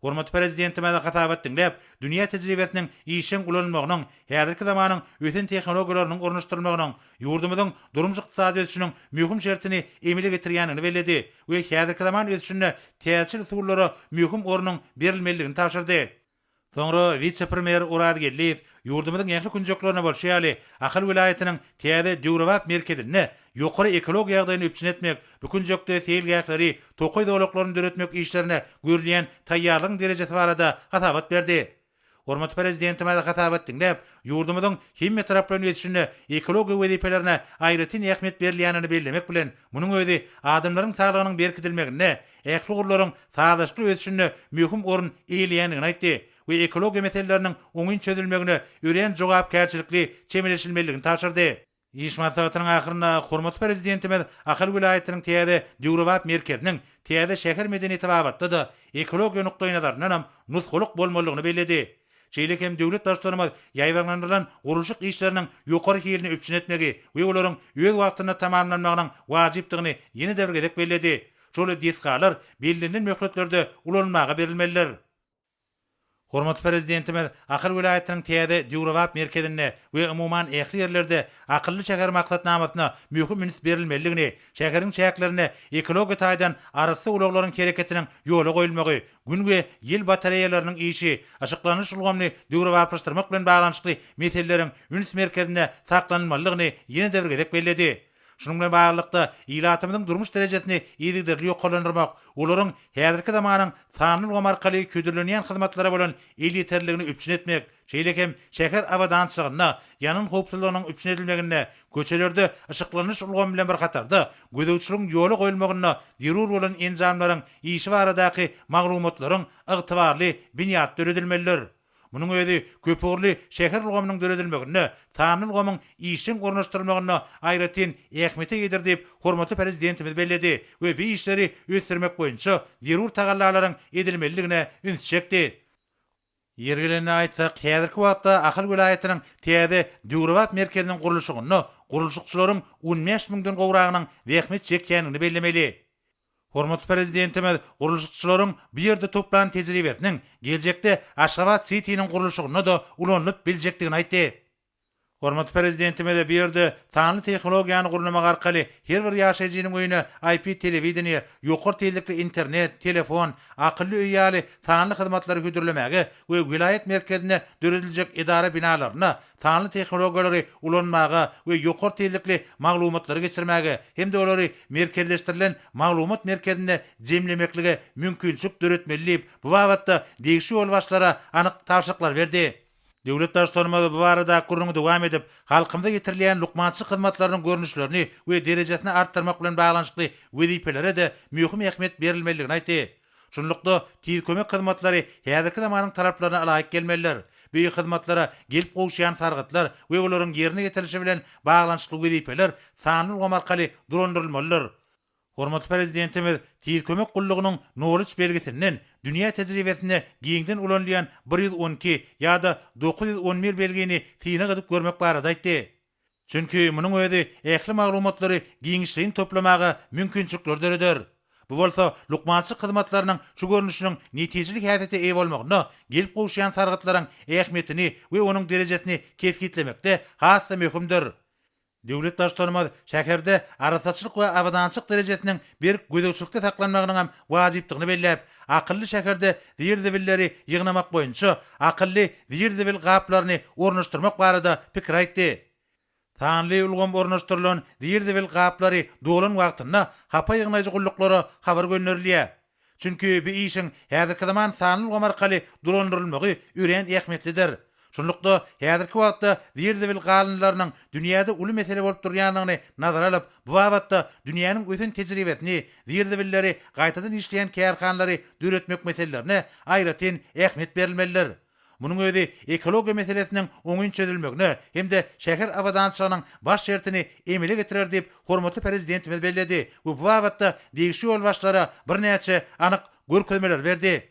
Hormatly Prezidentimiz hasabat diňläp, dünýä tejribesiniň işjeň ulanylmagynyň, häzirki zamanyň ösen tehnologiýalarynyň ornaşdyrylmagynyň ýurdumyzyň durmuş-ykdysady ösüşiniň möhüm şertini emele getirýändigini belledi we häzirki zaman ösüşinde täjir usullara möhüm ornuň berilmelidigini tabşyrdy. Soňra wise-premýer Oraz Geldiýew ýurdumyzyň ähli künjeklerinde bolşy ýaly, Ahal welaýatynyň täze döwrebap merkezinde ýokary ekologiýa ýagdaýyny üpjün etmek, bu künjekde seýilgähleri, tokaý zolaklaryny döretmek işlerine görülýän taýýarlygyň derejesi barada hasabat berdi. Hormatly Prezidentimiz hasap et diňläp, ýurdumyzyň hemme taraplaýyn ösüşinde ekologiýa wezipelerine aýratyn ähmiýet berilýänini bellemek bilen, munuň özi adamlaryň saglygynyň berkidilmeginde, ähli ugurlaryň sazlaşykly ösüşinde möhüm orun eýeleýändigini aýtdy we ekologiýa meseleleriniň oňyn çözülmegine örän jogapkärçilikli çemeleşilmelidigini tabşyrdy. Iş maslahatynyň ahyrynda hormatly Prezidentimiz Ahal welaýatynyň täze döwrebap merkeziniň täze şäher medeniýeti babatda-da ekologiýa nukdaýnazaryndanam nusgalyk bolmalydygyny belledi. Şeýle hem döwlet Baştutanymyz ýaýbaňlandyrylan gurluşyk işleriniň ýokary hilini üpjün etmegi we olaryň öz wagtynda tamamlanmagynyň wajypdygyny ýene-de bir gezek belledi, Şol desgalar bellenilen möhletlerde ulanylmaga berilmelidir. Hormatly Prezidentimiz Ahal welaýatynyň täze döwrebap merkezinde we umuman ähli ýerlerde Akylly şäher maksatnamasyna möhüm üns berilmelidigini, şäheriň çäklerinde ekologiýa taýdan arassa ulaglaryň hereketiniň ýola goýulmagy, Gün we ýel batareýalarynyň işi, yşyklanyş ulgamyny döwrebaplaşdyrmak bilen baglanyşykly meseleleriň üns merkezinde saklanylmalydygyny ýene-de bir gezek belledi. Şunuň bilen baglylykda, ilatymyzyň durmuş derejesini yzygiderli ýokarlandyrmak, olaryň häzirki zamanyň sanly ulgam arkaly hödürlenýän hyzmatlara bolan elýeterliligini üpjün etmek, şeýle hem şäher abadançylygynda, ýangyn howpsuzlygynyň üpjün edilmeginde, köçelerde yşyklanyş ulgamy bilen bir hatarda, gözegçiligiň ýola goýulmagynda zerur bolan enjamlaryň işi baradaky maglumatlaryň ygtybarly binýady döredilmelidir. Munuň özi köpugurly şäher ulgamynyň döredilmeginde, sanly ulgamyň işjeň ornaşdyrylmagynda aýratyn ähmiýete eýedir diýip, hormatly Prezidentimiz belledi we bu işleri ösdürmek boýunça zerur tagallalaryň edilmelidigine üns çekdi. Ýeri gelende aýtsak, häzirki wagtda Ahal welaýatynyň täze döwrebap merkeziniň gurluşygynda gurluşykçylaryň on bäş müňden gowragynyň zähmet çekýändigini bellemeli. Hormatly Prezidentimiz gurluşykçylaryň bu ýerde toplan tejribesiniň geljekde Aşgabat Sitiniň gurluşygynda-da ulanylyp biljekdigini aýtdy. Hormatly Prezidentimiz bu ýerde sanly tehnologiýany gurnamak arkaly her bir ýaşaýjynyň öýüne IP telewideniýe, ýokary tizlikli internet, telefon, akylly öý ýaly sanly hyzmatlary hödürlemäge we welaýat merkezinde dörediljek edara binalaryna sanly tehnologiýalary ulanmaga we ýokary tizlikli maglumatlary geçirmäge hem-de olary merkezleşdirilen maglumat merkezinde jemlemeklige mümkinçilik döretmeli diýip, bu babatda degişli ýolbaşçylara anyk tabşyryklar berdi. Döwlet Baştutanymyz bu baradaky gürrüňi dowam edip, halkymyza ýetirilýän lukmançylyk hyzmatlarynyň görnüşlerini we derejesini artdyrmak bilen baglanyşykly wezipelere-de möhüm ähmiýet berilmelidigini aýtdy. Şunlukda, tiz kömek hyzmatlary häzirki zamanyň talaplaryna ylaýyk gelmelidir. Bu hyzmatlara gelip gowuşýan sargytlar we olaryň ýerine ýetirilişi bilen baglanyşykly wezipeler sanly ulgam arkaly dolandyrylmalydyr. Hormatly Prezidentimiz tiz kömek gullugynyň Knowledge belgisinden dünýä tejribesinde giňden ulanylýan bir ýüz on iki ýa-da dokuz ýüz on bir belgini synag edip görmek barada aýtdy. Çünki munuň özi ähli maglumatlary giňişleýin toplamaga mümkinçilikleri döreder. Bu bolsa lukmançylyk hyzmatlarynyň şu görnüşiniň netijeli häsiýete eýe bolmagynda gelip gowuşýan sargytlaryň ähmiýetini we onuň derejesini kesgitlemekde has-da möhümdir. Döwlet Baştutanymyz şäherde arassaçylyk we abadançylyk derejesiniň berk gözegçilikde saklanmagynyň hem wajypdygyny belläp, akylly şäherde zir-zibilleri ýygnamak boýunça akylly zir-zibil gaplaryny ornaşdyrmak barada pikir aýtdy. Sanly ulgam ornaşdyrylan zir-zibil gaplary dolan wagtynda hapa ýygnaýjy gulluklara habar gönderilýär. Çünki bu işiň häzirki zaman sanly ulgam arkaly dolandyrylmagy örän ähmiýetlidir. Şunlukda, häzirki wagtda zir-zibil galyndylarynyň dünýäde uly mesele bolup durýandygyny nazara alyp, bu babatda dünýäniň ösen tejribesini, zir-zibilleri gaýtadan işleýän kärhanalary döretmek meselelerine aýratyn ähmiýet berilmelidir. Munuň özi ekologiýa meselesiniň oňyn çözülmegine hem-de şäher abadançylygynyň baş şertini emele getirer diýip, hormatly Prezidentimiz belledi we bu babatda degişli ýolbaşçylara birnäçe anyk görkezmeleri berdi.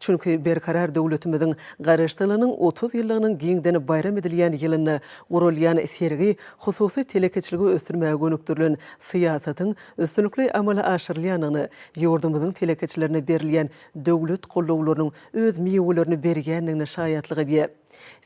Çünki Berkarar döwletimiziň Garaşsyzlygynyň otuz ýyllygynyň giňden baýram edilýän ýylynda guralýan sergi hususy telekeçiligi ösdürmäge gönükdirilen syýasatyň üstünlikli amala aşyrylýandygyny, ýurdumyzyň telekeçilerine berilýän döwlet gollawlarynyň öz miwelerini berýändigine şaýatlyk edýär.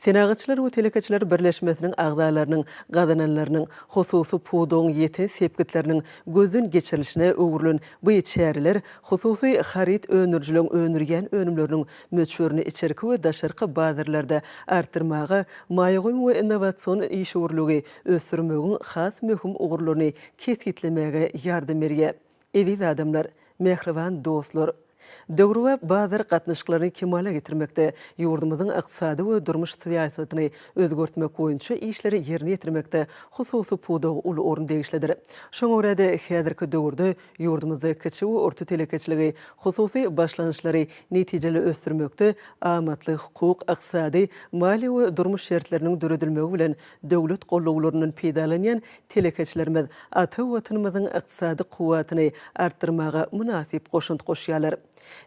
Senagatçylar we telekeçiler birleşmesiniň agzalarynyň gazananlarynyň hususy pudagyň ýeten sepgitleriniň gözden geçirilişine öwrülen bu çäreler hususy haryt öndürijileriň öndürýän önümleriniň möçberini içerki we daşarky bazarlarda artdyrmaga, maýa goýum we innowasion işewürligi ösdürmegiň has möhüm ugurlaryny kesgitlemäge ýardam berýär. Eziz adamlar, mähriban dostlar! Döwrebap bazar gatnaşyklaryny kemala getirmekde, ýurdumyzyň ykdysady we durmuş syýasatyny özgertmek boýunça işleri ýerine ýetirmekde hususy pudaga uly orun degişlidir. Şoňa görä-de, häzirki döwürde ýurdumyzda kiçi we orta telekeçiligi, hususy başlangyçlary netijeli ösdürmekde amatly hukuk, ykdysady, maliýe we durmuş şertleriniň döredilmegi bilen Döwlet gollawlaryndan peýdalanýan telekeçilerimiz ata Watanymyzyň ykdysady kuwwatyny artdyrmaga mynasyp goşant goşýarlar.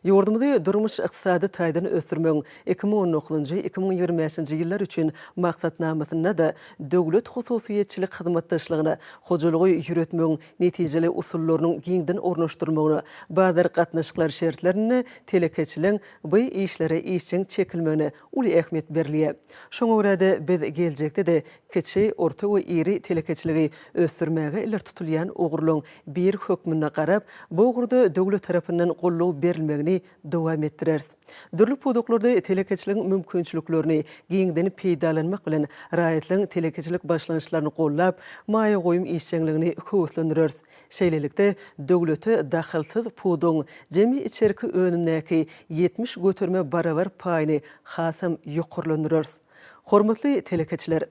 Ýurdumyzy durmuş-ykdysady taýdan ösdürmegiň iki müň on dokuzynjy, iki müň ýigrimi bäşinji ýyllar üçin Maksatnamasynda-da döwlet-hususyýetçilik hyzmatdaşlygyna, hojalygy ýöretmegiň netijeli usullarynyň giňden ornaşdyrylmagyna, bazar gatnaşyklary şertlerinde telekeçiligiň bu işlere işjeň çekilmegine uly ähmiýet berilýär. Şoňa görä-de, biz geljekde-de kiçi, orta we iri telekeçiligi ösdürmäge ileri tutulýan ugurlaryň biri hökmünde garap, bu ugurda döwlet tarapyndan goldaw berilmegini dowam etdireris. Dürli pudaklarda telekeçiligiň mümkinçiliklerini giňden peýdalanmak bilen, raýatlaryň telekeçilik başlangyçlaryny goldap, maýa goýum işjeňligini höweslendireris. Şeýlelikde, döwlete dahylsyz puduň jemi içerki önümdäki ýetmiş göterime barabar paýyny hasam ýokarlandyrarys. Hormatly telekeçiler!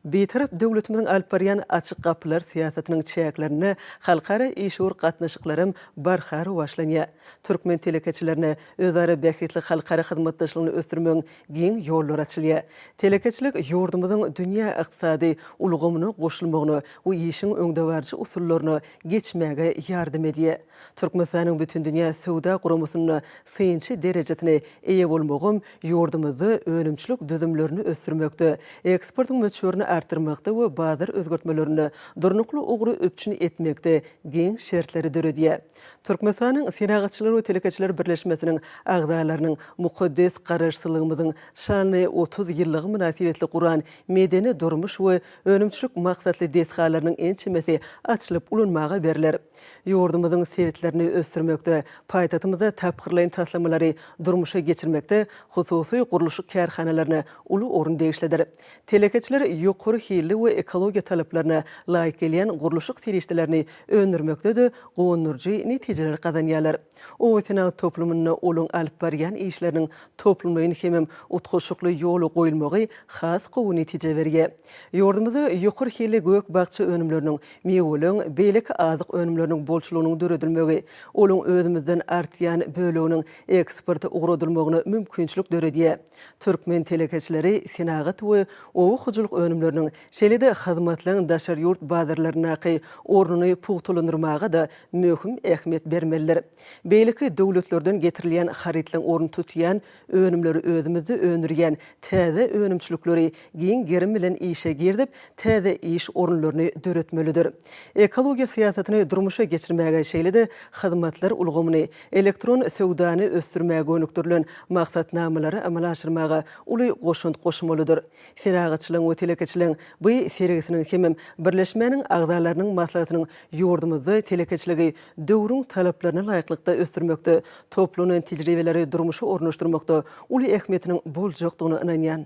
Bitarap döwletimiziň alyp barýan Açyk gapylar syýasatynyň çäklerinde halkara işewür gatnaşyklaram barha rowaçlanýar. Türkmen telekeçilerine özara bähbitli halkara hyzmatdaşlygyny ösdürmegiň giň ýollar açylýar. Telekeçilik ýurdumyzyň dünýä ykdysady ulgamyna goşulmagyna we işiň öňdebaryjy usullaryna geçmäge ýardam edýär. Türkmenistanyň Bütindünýä Söwda Guramasynda synçy derejesine eýe bolmagam ýurdumyzda önümçilik düzümlerini ösdürmekde, eksportyň möçberini artdyrmakda we bazar özgertmelerinde durnukly ugry üpjün etmekde giň şertleri döredýär. Türkmenistanyň Senagatçylar we telekeçiler birleşmesiniň agzalarynyň mukaddes Garaşsyzlygymyzyň şanly otuz ýyllygy mynasybetli guran medeni-durmuş we önümçilik maksatly desgalarynyň ençemesi açylyp ulanmaga berler. Ýurdumyzyň sebitlerini ösdürmekde, paýtagtymyzda tapgyrlaýyn taslamalary durmuşa geçirmekde hususy gurluşyk kärhanalaryna uly orun degişlidir. Telekeçiler ýokary hilli we ekologiýa talaplaryna laýyk gelýän gurluşyk serişdelerini öndürmekde-de guwandyryjy netijeler gazanýarlar. Obasenagat toplumynda olaň alyp barýan işleriniň toplumlaýyn hemem utgaşykly ýola goýulmagy has gowy netije berýär. Ýurdumyzda ýokary hilli gök-bakja önümleriniň, miweleň, beýleki azyk önümleriniň bolçulygynyň döredilmegi, olaň özümizden artýan böleginiň eksporta ugradylmagyna mümkinçilik döredýär. Türkmen telekeçileri senagat we oba hojalyk önümleriniň, şeýle-de hyzmatlaryň daşary ýurt bazarlaryndaky ornuny pugtalandyrmaga-da möhüm ähmiýet bermelidir. Beýleki döwletlerden getirilýän harytlaryň ornuny tutýan önümleri özümizde öndürýän täze önümçilikleri giň gerim bilen işe girizip, täze iş orunlaryny döretmelidir. Ekologiýa syýasatyny durmuşa geçirmäge, şeýle-de hyzmatlar ulgamyny, elektron söwdany ösdürmäge gönükdirilen maksatnamalary amala aşyrmaga uly goşant goşmalydyr. Senagatçylygyň we telekeçiligiň bu sergisiniň hemem birleşmäniň agzalarynyň maslahatynyň ýurdumyzda telekeçiligi döwrüň talaplaryna laýyklykda ösdürmekde, toplanan tejribeleri durmuşa ornaşdyrmakda uly ähmiýetiniň boljakdygyna ynanýan.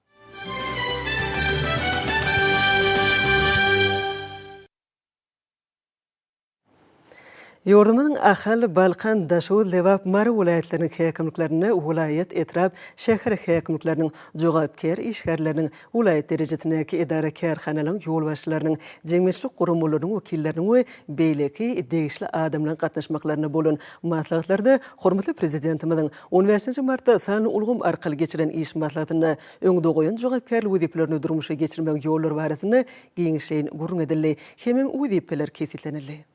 Ýurdumyzyň Ahal, Balkan, Daşoguz, Lebap, Mary welaýatlarynyň häkimliklerinde welaýat, etrap, şäher häkimlikleriniň jogapkär işgärleriniň, welaýat derejesindäki edara-kärhanalaryň ýolbaşçylarynyň, jemgyýetçilik guramalarynyň wekilleriniň we beýleki degişli adamlaryň gatnaşmaklarynda bolan maslahatlarda hormatly Prezidentimiziň On bäşinji martda sanly ulgam arkaly geçirilen iş maslahatynda öňde goýan jogapkärli wezipelerini durmuşa geçirmegiň ýollary barasynda giňişleýin gürrüň edildi hemem wezipeler kesgitlenildi.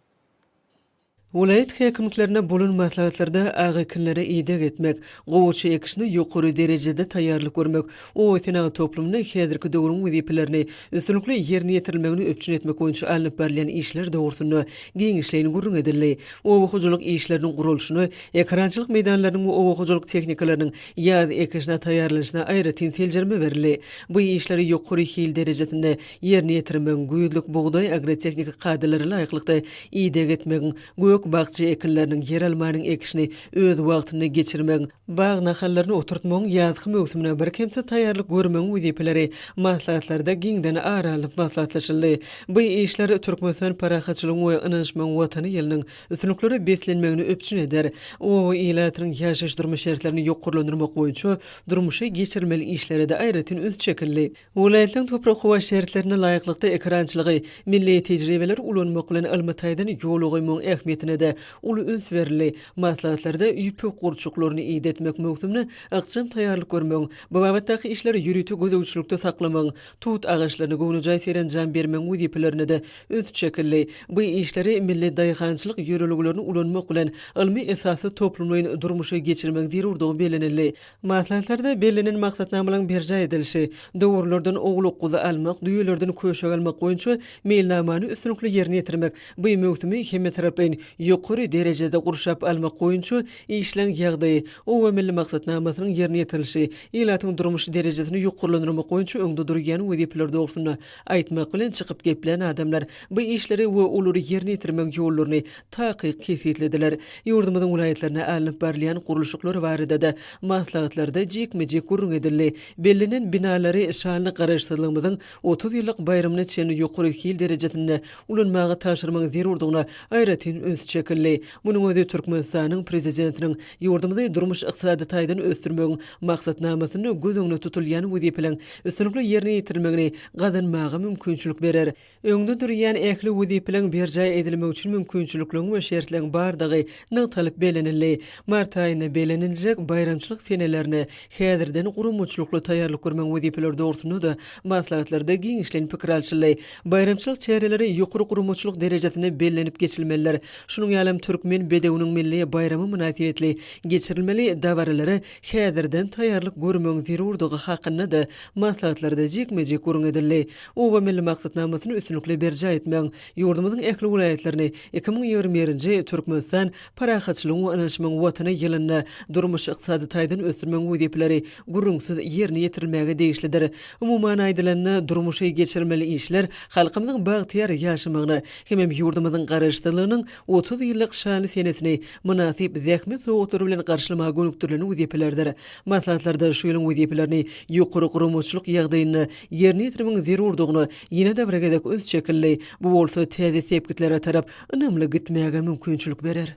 Welaýat häkimliklerine bolan maslahatlarda ak ekinlere ideg etmek, gowaça ekişine ýokary derejede taýýarlyk görmek, Obasenagat toplumynda häzirki döwrüň wezipelerini üstünlikli ýerine ýetirilmegini üpjün etmek boýunça alnyp barylýan işler dogrusynda giňişleýin gürrüň edildi. Oba hojalyk işleriniň guralşyna, ekerançylyk meýdanlarynyň we oba hojalyk tehnikalarynyň ýaz ekişine taýýarlanyşyna aýratyn seljerme berildi. Bu işleri ýokary hil derejesinde ýerine ýetirmegiň, güýzlük bugdaý agrotehniki kadalara laýyklykda ideg etmegiň, gök-bakja ekinleriniň, ýeralmanyň ekişini öz wagtynda geçirmegiň, Bag nahallaryny oturtmagyň ýazky möwsümine birkemsiz taýýarlyk görmegiň wezipeleri maslahatlarda giňden ara alnyp maslahatlaşyldy. Bu işler Türkmenistan parahatçylygyň we ynanyşmagyň Watany ýylynyň üstünliklere beslenmegini üpjün eder. Oba ilatynyň ýaşaýyş-durmuş şertlerini ýokarlandyrmak boýunça durmuşa geçirilmeli işlere-de aýratyn üns çekildi. Welaýatlaryň toprak-howa şertlerine laýyklykda ekerançylygy milli tejribeleri ulanmak bilen ylmy taýdan ýola goýmagyň ähmiýetine-de uly üns berildi. Maslahatlarda ýüpek gurçuklaryny idetmek möwsümine ykjam taýýarlyk görmegiň, bu babatdaky işleri ýörite gözegçilikde saklamagyň, tut agaçlaryna göwnejaý serenjam bermegiň wezipelerine-de üns çekildi. Bu işleri milli daýhançylyk ýörelgelerini ulanmak bilen ylmy esasda toplumlaýyn durmuşa geçirmegiň zerurdygy bellenildi. Maslahatlarda bellenen maksatnamalaryň berjaý edilişi, dowrulardan owlak-guzy almak, düýelerden köşek almak boýunça meýilnamany üstünlikli ýerine ýetirmek, bu möwsümi hemmetaraplaýyn ýokary derejede gurşap almak boýunça işleň ýagdaýy, Oba milli maksatnamasynyň ýerine ýetirilişi, ilatyň durmuş derejesini ýokarlandyrmak boýunça öňde durýan wezipeler dogrusynda Aýtmak bilen çykyp geplän adamlar bu işleri we olary ýerine ýetirmegiň ýollaryny takyk kesgitlediler. Ýurdumyzyň welaýatlarynda alnyp barylýan gurluşyklar barada-da maslahatlarda jikme-jik gürrüň edildi. Bellenen binalary şanly Garaşsyzlygymyzyň otuz ýyllyk baýramyna çenli ýokary hil derejesinde ulanmaga tabşyrmagyň zerurdygyna aýratyn üns çekildi. Munuň özi Türkmenistanyň Prezidentiniň Ýurdumyzy durmuş-ykdysady taýdan ösdürmegiň maksatnamasynda göz öňünde tutulýan wezipeleriň üstünlikli ýerine ýetirilmegini gazanmaga mümkinçilik berer. Öňde durýan ähli wezipeleriň berjaý edilmegi üçin mümkinçilikleriň we şertleriň bardygy nygtalyp bellenildi. Mart aýynda belleniljek baýramçylyk senelerine häzirden guramaçylykly taýýarlyk görmegiň wezipeleri dogrusynda-da maslahatlarda giňişleýin pikir alşyldy. Baýramçylyk çäreleri ýokary guramaçylyk derejesinde bellenip geçilmelidir. Şunuň ýaly hem türkmen bedewiniň milli baýramy mynasybetli geçirilmeli dabaralara häzirden taýýarlyk görmegiň zerurdygy hakynda-da maslahatlarda jikme-jik gürrüň edildi. Oba milli maksatnamasyny üstünlikli berjaý etmegiň, ýurdumyzyň ähli welaýatlaryny iki müň ýigrimi birinji Türkmenistan parahatçylygyň we ynanyşmagyň Watany ýylynda durmuş-ykdysady taýdan ösdürmegiň wezipeleri gürrüňsiz ýerine ýetirilmäge degişlidir. Umuman aýdylanda, durmuşy geçirilmeli işler halkymyzyň bagtyýar ýaşamagyna hemem ýurdumyzyň Garaşsyzlygynyň otuz ýyllyk şanly senesini mynasyp zähmet sowgatlary bilen garşylamaga gönükdirilen wezipelerdir. Maslahatlarda şu ýylyň wezipelerini ýokary guramaçylyk ýagdaýynda ýerine ýetirmegiň zerurdygyna ýene-de bir gezek üns çekildi, bu bolsa täze sepgitlere tarap ynamly gitmäge mümkinçilik berer.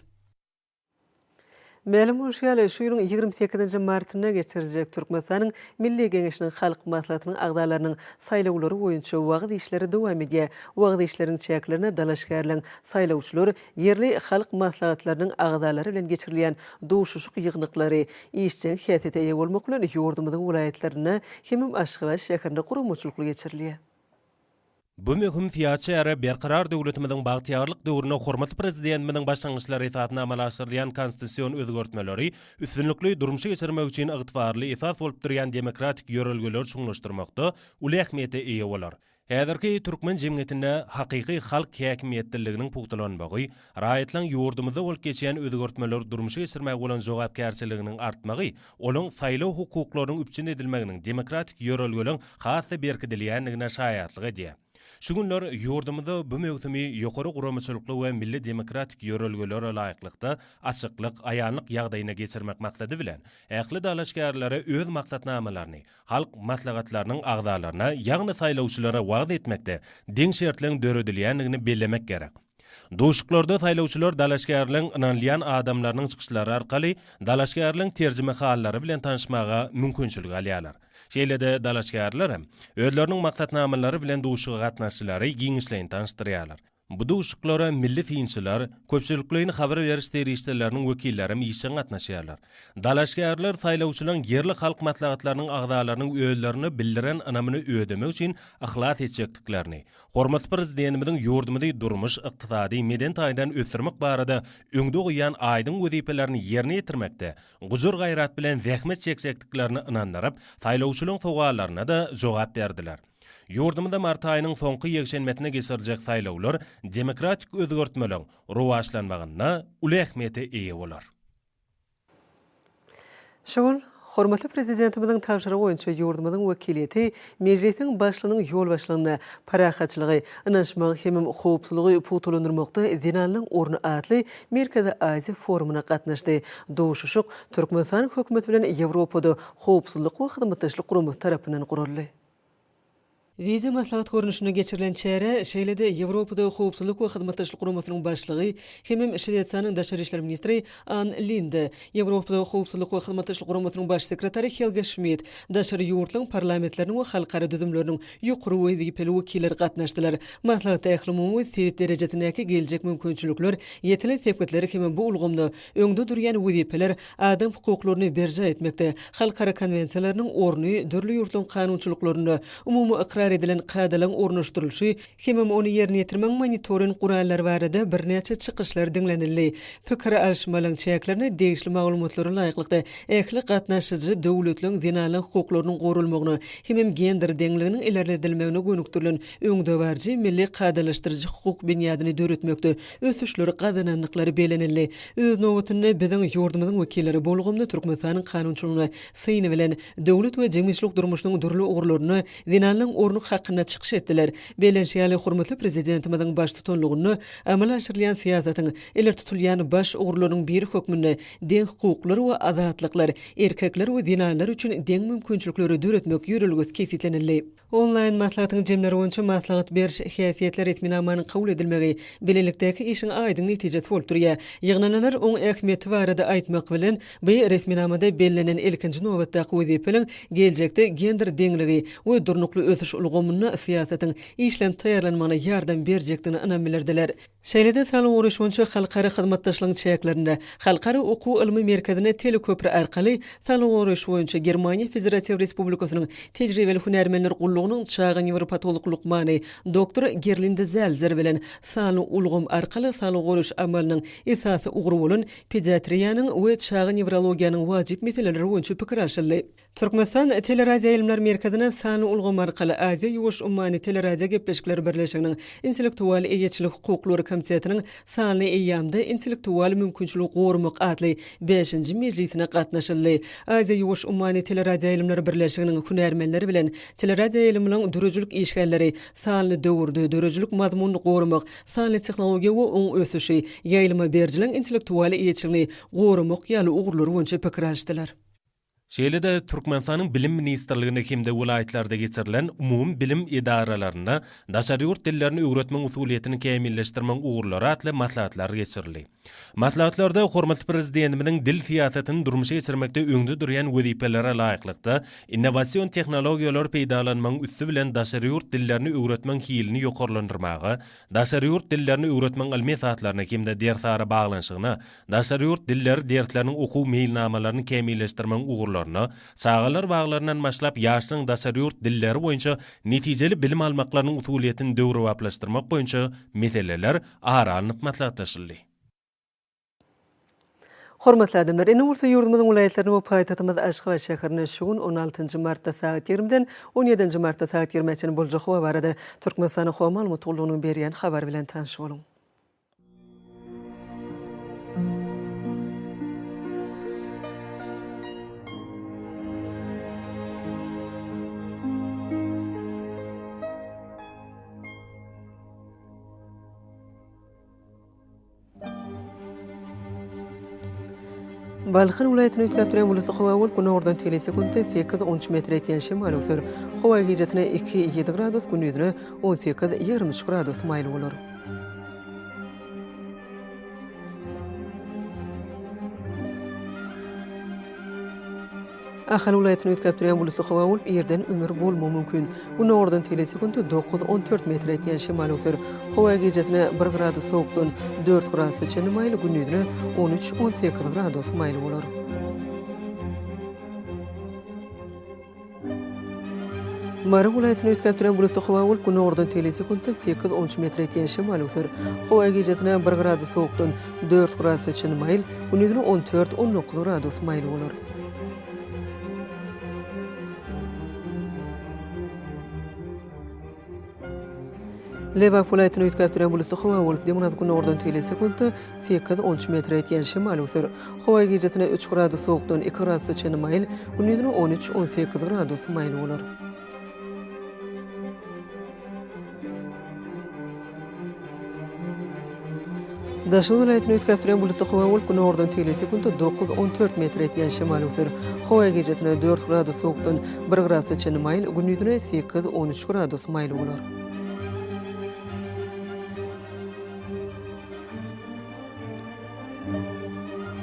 Mälim bolşy ýaly, şu ýylyň ýigrimi sekizinji martynda geçiriljek Türkmenistanyň Milli Geňeşiniň Halk Maslahatynyň agzalarynyň saýlawlary boýunça wagyz işleri dowam edýär. Wagyz işleriniň çäklerinde dalaşgärleň, saýlawçylar, ýerli halk maslahatlarynyň agzalary bilen geçirilýän duşuşyk ýygnaklary işjeň häsiýete eýe bolmak bilen ýurdumyzyň welaýatlarynda hemem Aşgabat şäherinde guramaçylykly geçirilýär. Bu möhüm syýasy çäre Berkarar döwletimiziň bagtyýarlyk döwründe hormatly Prezidentimiziň başlangyçlary esasynda amala aşyrylýan konstitusion özgertmeleri üstünlikli durmuşa geçirmek üçin ygtybarly esas bolup durýan demokratik ýörelgeleri çuňlaşdyrmakda uly ähmiýete eýe bolar. Häzirki türkmen jemgyýetinde hakyky halk häkimiýetliliginiň pugtalanmagy, Raýatlaryň ýurdumyzda bolup geçýän özgertmeleri durmuşa geçirmäge bolan jogapkärçiliginiň artmagy, olaryň saýlaw hukuklarynyň üpjün edilmeginiň demokratik ýörelgeleriň has-da berkidilýändigine şaýatlyk edýär. Şu günler ýurdumyzda bu möwsümi ýokary guramaçylykly we milli demokratik ýörelgelere laýyklykda, açyklyk, aýanlyk ýagdaýynda geçirmek maksady bilen, ähli dalaşgärlere öz maksatnamalaryny halk maslahatlarynyň agzalaryna, ýagny saýlawçylara wagyz etmekde deň şertleriň döredilýändigini bellemek gerek. Duşuklarda saýlawçylar dalaşgärligiň ynanylýan adamlarynyň çykyşlary arkaly dalaşgärligiň terjimehallary bilen tanyşmaga mümkinçilik alýarlar. Şeýle-de dalaşgärler hem özleriniň maksatnamalary bilen duşuga gatnaşyjylary giňişleýin tanyşdyrýarlar. Bu duşuklara milli synçylar, köpçülikleýin habar beriş serişdeleriniň wekilleri hem işjeň gatnaşýarlar. Dalaşgärler saýlawçylaryň ýerli halk maslahatlarynyň agzalarynyň özlerine bildiren ynamyny ödemek üçin yhlas etjekdiklerini, Hormatly Prezidentimiziň ýurdumyzy durmuş, ykdysady, medeni taýdan ösdürmek barada öňde goýýan aýdyň wezipelerini ýerine ýetirmekde gujur-gaýrat bilen zähmet çekjekdiklerine ynandyryp, saýlawçylaryň sowallaryna-da jogap berdiler. Ýurdumyzda mart aýynyň soňky ýekşenbesinde geçiriljek saýlawlar demokratik özgertmeleriň rowaçlanmagynda uly ähmiýete eýe bolar. Şu gün hormatly Prezidentimiziň tabşyrygy boýunça ýurdumyzyň wekiliýeti Mejlisiň Başlygynyň ýolbaşçylygynda Parahatçylygy, ynanyşmagy hem howpsuzlygy pugtalandyrmakda zenanlaryň orny atly Merkezi Aziýa forumyna gatnaşdy. Duşuşyk Türkmenistanyň Hökümeti bilen Ýewropada Howpsuzlyk we Hyzmatdaşlyk Guramasy tarapyndan guraldy. Wideo maslahat görnüşinde geçirilen çärä şeýle-de Ýewropada Howpsuzlyk we Hyzmatdaşlyk Guramasynyň Başlygy hemem Şwesiýanyň Daşary işler ministri Ann Linde, Ýewropada Howpsuzlyk we Hyzmatdaşlyk Guramasynyň Baş sekretary Helge Şmit, daşary ýurtlaryň parlamentleriniň we halkara düzümleriniň ýokary wezipeli wekilleri gatnaşdylar. Maslahatda ählumumy we sebit derejesindäki geljek mümkinçilikler, ýetilen sepgitler hemem bu ulgamda Öňde durýan wezipeler adam hukuklaryny berjaý etmekde, halkara konwensiýalarynyň orny, dürli ýurtlaryň kanunçylyklarynda umumy ykrar edilen kadalaryň ornaşdyrylyşy hemem ony ýerine ýetirmegiň monitoring gurallary barada birnäçe çykyşlar diňlenildi. Pikir alyşmalaryň çäklerinde degişli maglumatlara laýyklykda, ähli gatnaşyjy döwletleň zenanlaryň hukuklarynyň goralmagyna hemem gender deňliginiň ilerledilmegine gönükdirilen öňdebaryjy milli kadalaşdyryjy hukuk binýadyny döretmekde ösüşleri gazanandyklary bellenildi. Öz nobatynda, biziň ýurdumyzyň wekilleri bu ulgamda Türkmenistanyň kanunçylygyna syny bilen, döwlet we jemgyýetçilik durmuşynyň dürli ugurlarynda zenanlaryň orny hakynda çykyş etdiler. Bellenişi ýaly, hormatly Prezidentimiziň baştutanlygynda amala aşyrylýan syýasatyň ileri tutulýan baş ugurlarynyň biri hökmünde deňhukuklar we azatlyklar, erkekler we zenanlar üçin deň mümkinçilikleri döretmek ýörelgesi kesgitlenildi. Onlaýn maslahatyň jemleri boýunça maslahat beriş häsiýetli resminamanyň kabul edilmegi bilelikdäki işiň aýdyň netijesi bolup durýar. Ýygnanalar oň ähmiýeti barada aýtmak bilen, bu resminamada bellenen ilkinji nobatdaky wezipeliň geljekde gender deňligi we durnukly ösüş ulgamynda syýasatyň işlenip taýýarlanmagyna ýardam berjekdigine ynam bildirdiler. Şeýle-de Salowry şonça halkara hyzmatdaşlygyň çäklerinde Halkara okuw-ylmy merkezine teleköpri arkaly Salowry iş boýunça Germaniýa Federatiw Respublikasynyň Tejribeli hünärmenler gullugynyň çaga newropatolog lukmany doktor Gerlinde Zelzer bilen sanly ulgam arkaly Salowry iş amalynyň esasy ugry bolan pediatriýanyň we çaga newrologiýanyň wajyp meseleleri boýunça pikir alşyldy. Türkmenistan Teleradioýaýlymlar merkezine sanly ulgam arkaly Aziýa-Ýuwaş ummany teleradiogepleşikler birleşiginiň Intellektual eýeçilik hukuklary komitetiniň Sanly eýýamda intellektual mümkinçiligi goramak atly bäşinji mejlisine gatnaşyldy. Aziýa-Ýuwaş ummany teleradioýaýlymlar birleşiginiň hünärmenleri bilen teleradioýaýlymlaryň döredijilik işgärleri sanly döwürde döredijilik mazmunyny goramak, sanly tehnologiýa we oň ösüşi, ýaýlyma berijiligiň intellektual eýeçiligini goramak ýaly ugurlar boýunça pikir alşdylar. Şeýle-de, Türkmenistanyň Bilim ministrliginde hem-de welaýatlarda geçirilen umumybilim edaralarynda daşary ýurt dillerini öwretmegiň usulyýetini kämilleşdirmegiň ugurlary atly maslahatlar geçirildi. Maslahatlarda hormatly Prezidentimiziň dil syýasatyny durmuşa geçirmekde öňde durýan wezipelere laýyklykda, innowasion tehnologiýalary peýdalanmagyň üsti bilen daşary ýurt dillerini öwretmegiň hilini ýokarlandyrmaga, daşary ýurt dillerini öwretmegiň ylmy esaslaryna hem-de dersara baglanyşygyna Daşary ýurt dilleri dersleriniň okuw meýilnamalaryny kämilleşdirmegiň ugurlaryna, çagalar baglaryndan başlap ýaşlaryň daşary ýurt dilleri boýunça netijeli bilim almaklarynyň usulyýetini döwrebaplaşdyrmak boýunça meseleler ara alnyp maslahatlaşyldy. Hormatly adamlar! Ine bolsa ýurdumyzyň welaýatlaryny we paýtagtymyz Aşgabat şäherini şu gün on altynjy martda sagat ýigrimiden on ýedinji martda sagat ýigrimä çenli boljak howa barada Türkmenistanyň Howa maglumat gullugynyň berýän habary bilen tanyş boluň. Balkan welaýatyny üýtgäp duran bulutly howa bolup, günordan telise günde sekiz, on üç metre ýetýän şemal öwser. Howa gijasine iki, ýedi gradus, gündizine on sekiz, ýigrimi üç gradus maýyl bolar. Ahal welaýatyny üýtgäp durýan bulutly howa bolup, ýerden ümür bolmagy mümkin. Gündogardan telesekunt dokuz-on dört metr etýän şemal öwser. Howa gijesine bir gradus sowukdan dört gradusa çenli maýyl, gündizine on üç-on sekiz gradus maýyl bolar. Mary welaýatyny üýtgäp duran bulutly howa bolup, günordan tegelýän sekuntda sekiz onunçy metre ýetýän şemal öser. Howa gijesine bir gradus sowukdan dört gradusa çenli maýyl, gündizine on dört, on dokuz gradus maýyl bolar. Lebap welaýatyny üýtgäp duran bulutly howa bolup, demirgazyk günordan tüýli sekuntda sekiz, on üç metre ýetýän şemal öser. Howa gijasine üç gradus sowukdan iki gradusa çenli maýyl, gündizine on üç, on sekiz gradus maýyl bolar. Daşoguz welaýatyny üýtgäp duran bulutly howa bolup, günordan tegelýän sekunta dokuz-on dört metr etýän şemal öwser. Howa gijasine dört gradus sowukdan bir gradusa çenli maýyl, gündiziňe sekiz-on üç gradus maýyl bolar.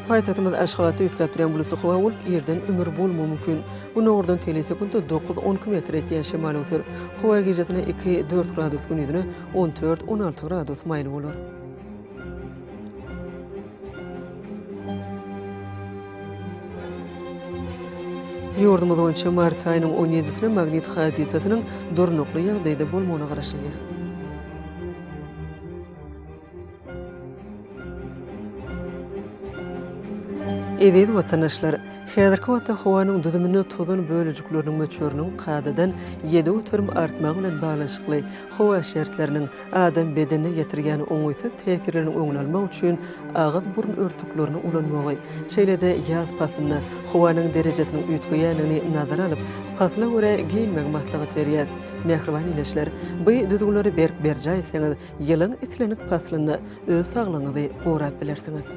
Paýtagtymyz Aşgabatda üýtgäp durýan bulutly howa bolup, ýerden ümür bolmagy mümkin. Gün ugurdan tele sekuntda dokuz-on kilometr etýän şemal öwser. Howa gijasine iki-dört gradus, gündizine on dört-on alty gradus maýyl bolar. Ýurdumyz boýunça mart aýynyň on ýedisine magnit hadysasynyň durnukly ýagdaýda bolmagyna garaşylýar. Eziz watandaşlar! Häzirki wagtda howanyň düzüminde tozan bölejikleriniň möçberiniň kadadan ýedi göterim artmagy bilen baglanyşykly howa şertleriniň adam bedenine ýetirýän oňaýsyz täsirleriniň öňüni almak üçin agyz-burun örtüklerini ulanmagy, şeýle-de ýaz paslynda howanyň derejesiniň üýtgeýändigini nazara alyp, pasla görä geýinmegi maslahat berýäs. Mähriban ileçiler! Bu düzgünleri berk berjaý etseňiz, Ýylyň islendik paslynda öz saglygyňyzy gorap bilersiňiz.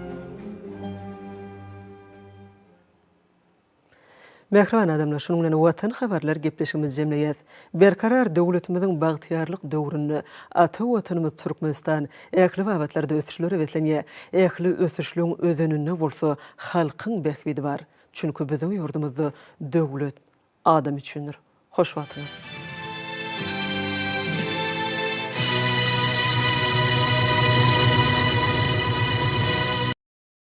Mähriban adamlar, şunuň bilen Watan habarlar gepleşigimizi jemleýäs. Berkarar döwletimiziň bagtyýarlyk döwründe ata Watanymyz Türkmenistan ähli babatlarda ösüşlere beslenýär. Ähli ösüşligiň özeninde bolsa halkyň bähbidi bar. Çünki biziň ýurdumyzda döwlet Adam üçindir. Hoş wagtyňyz.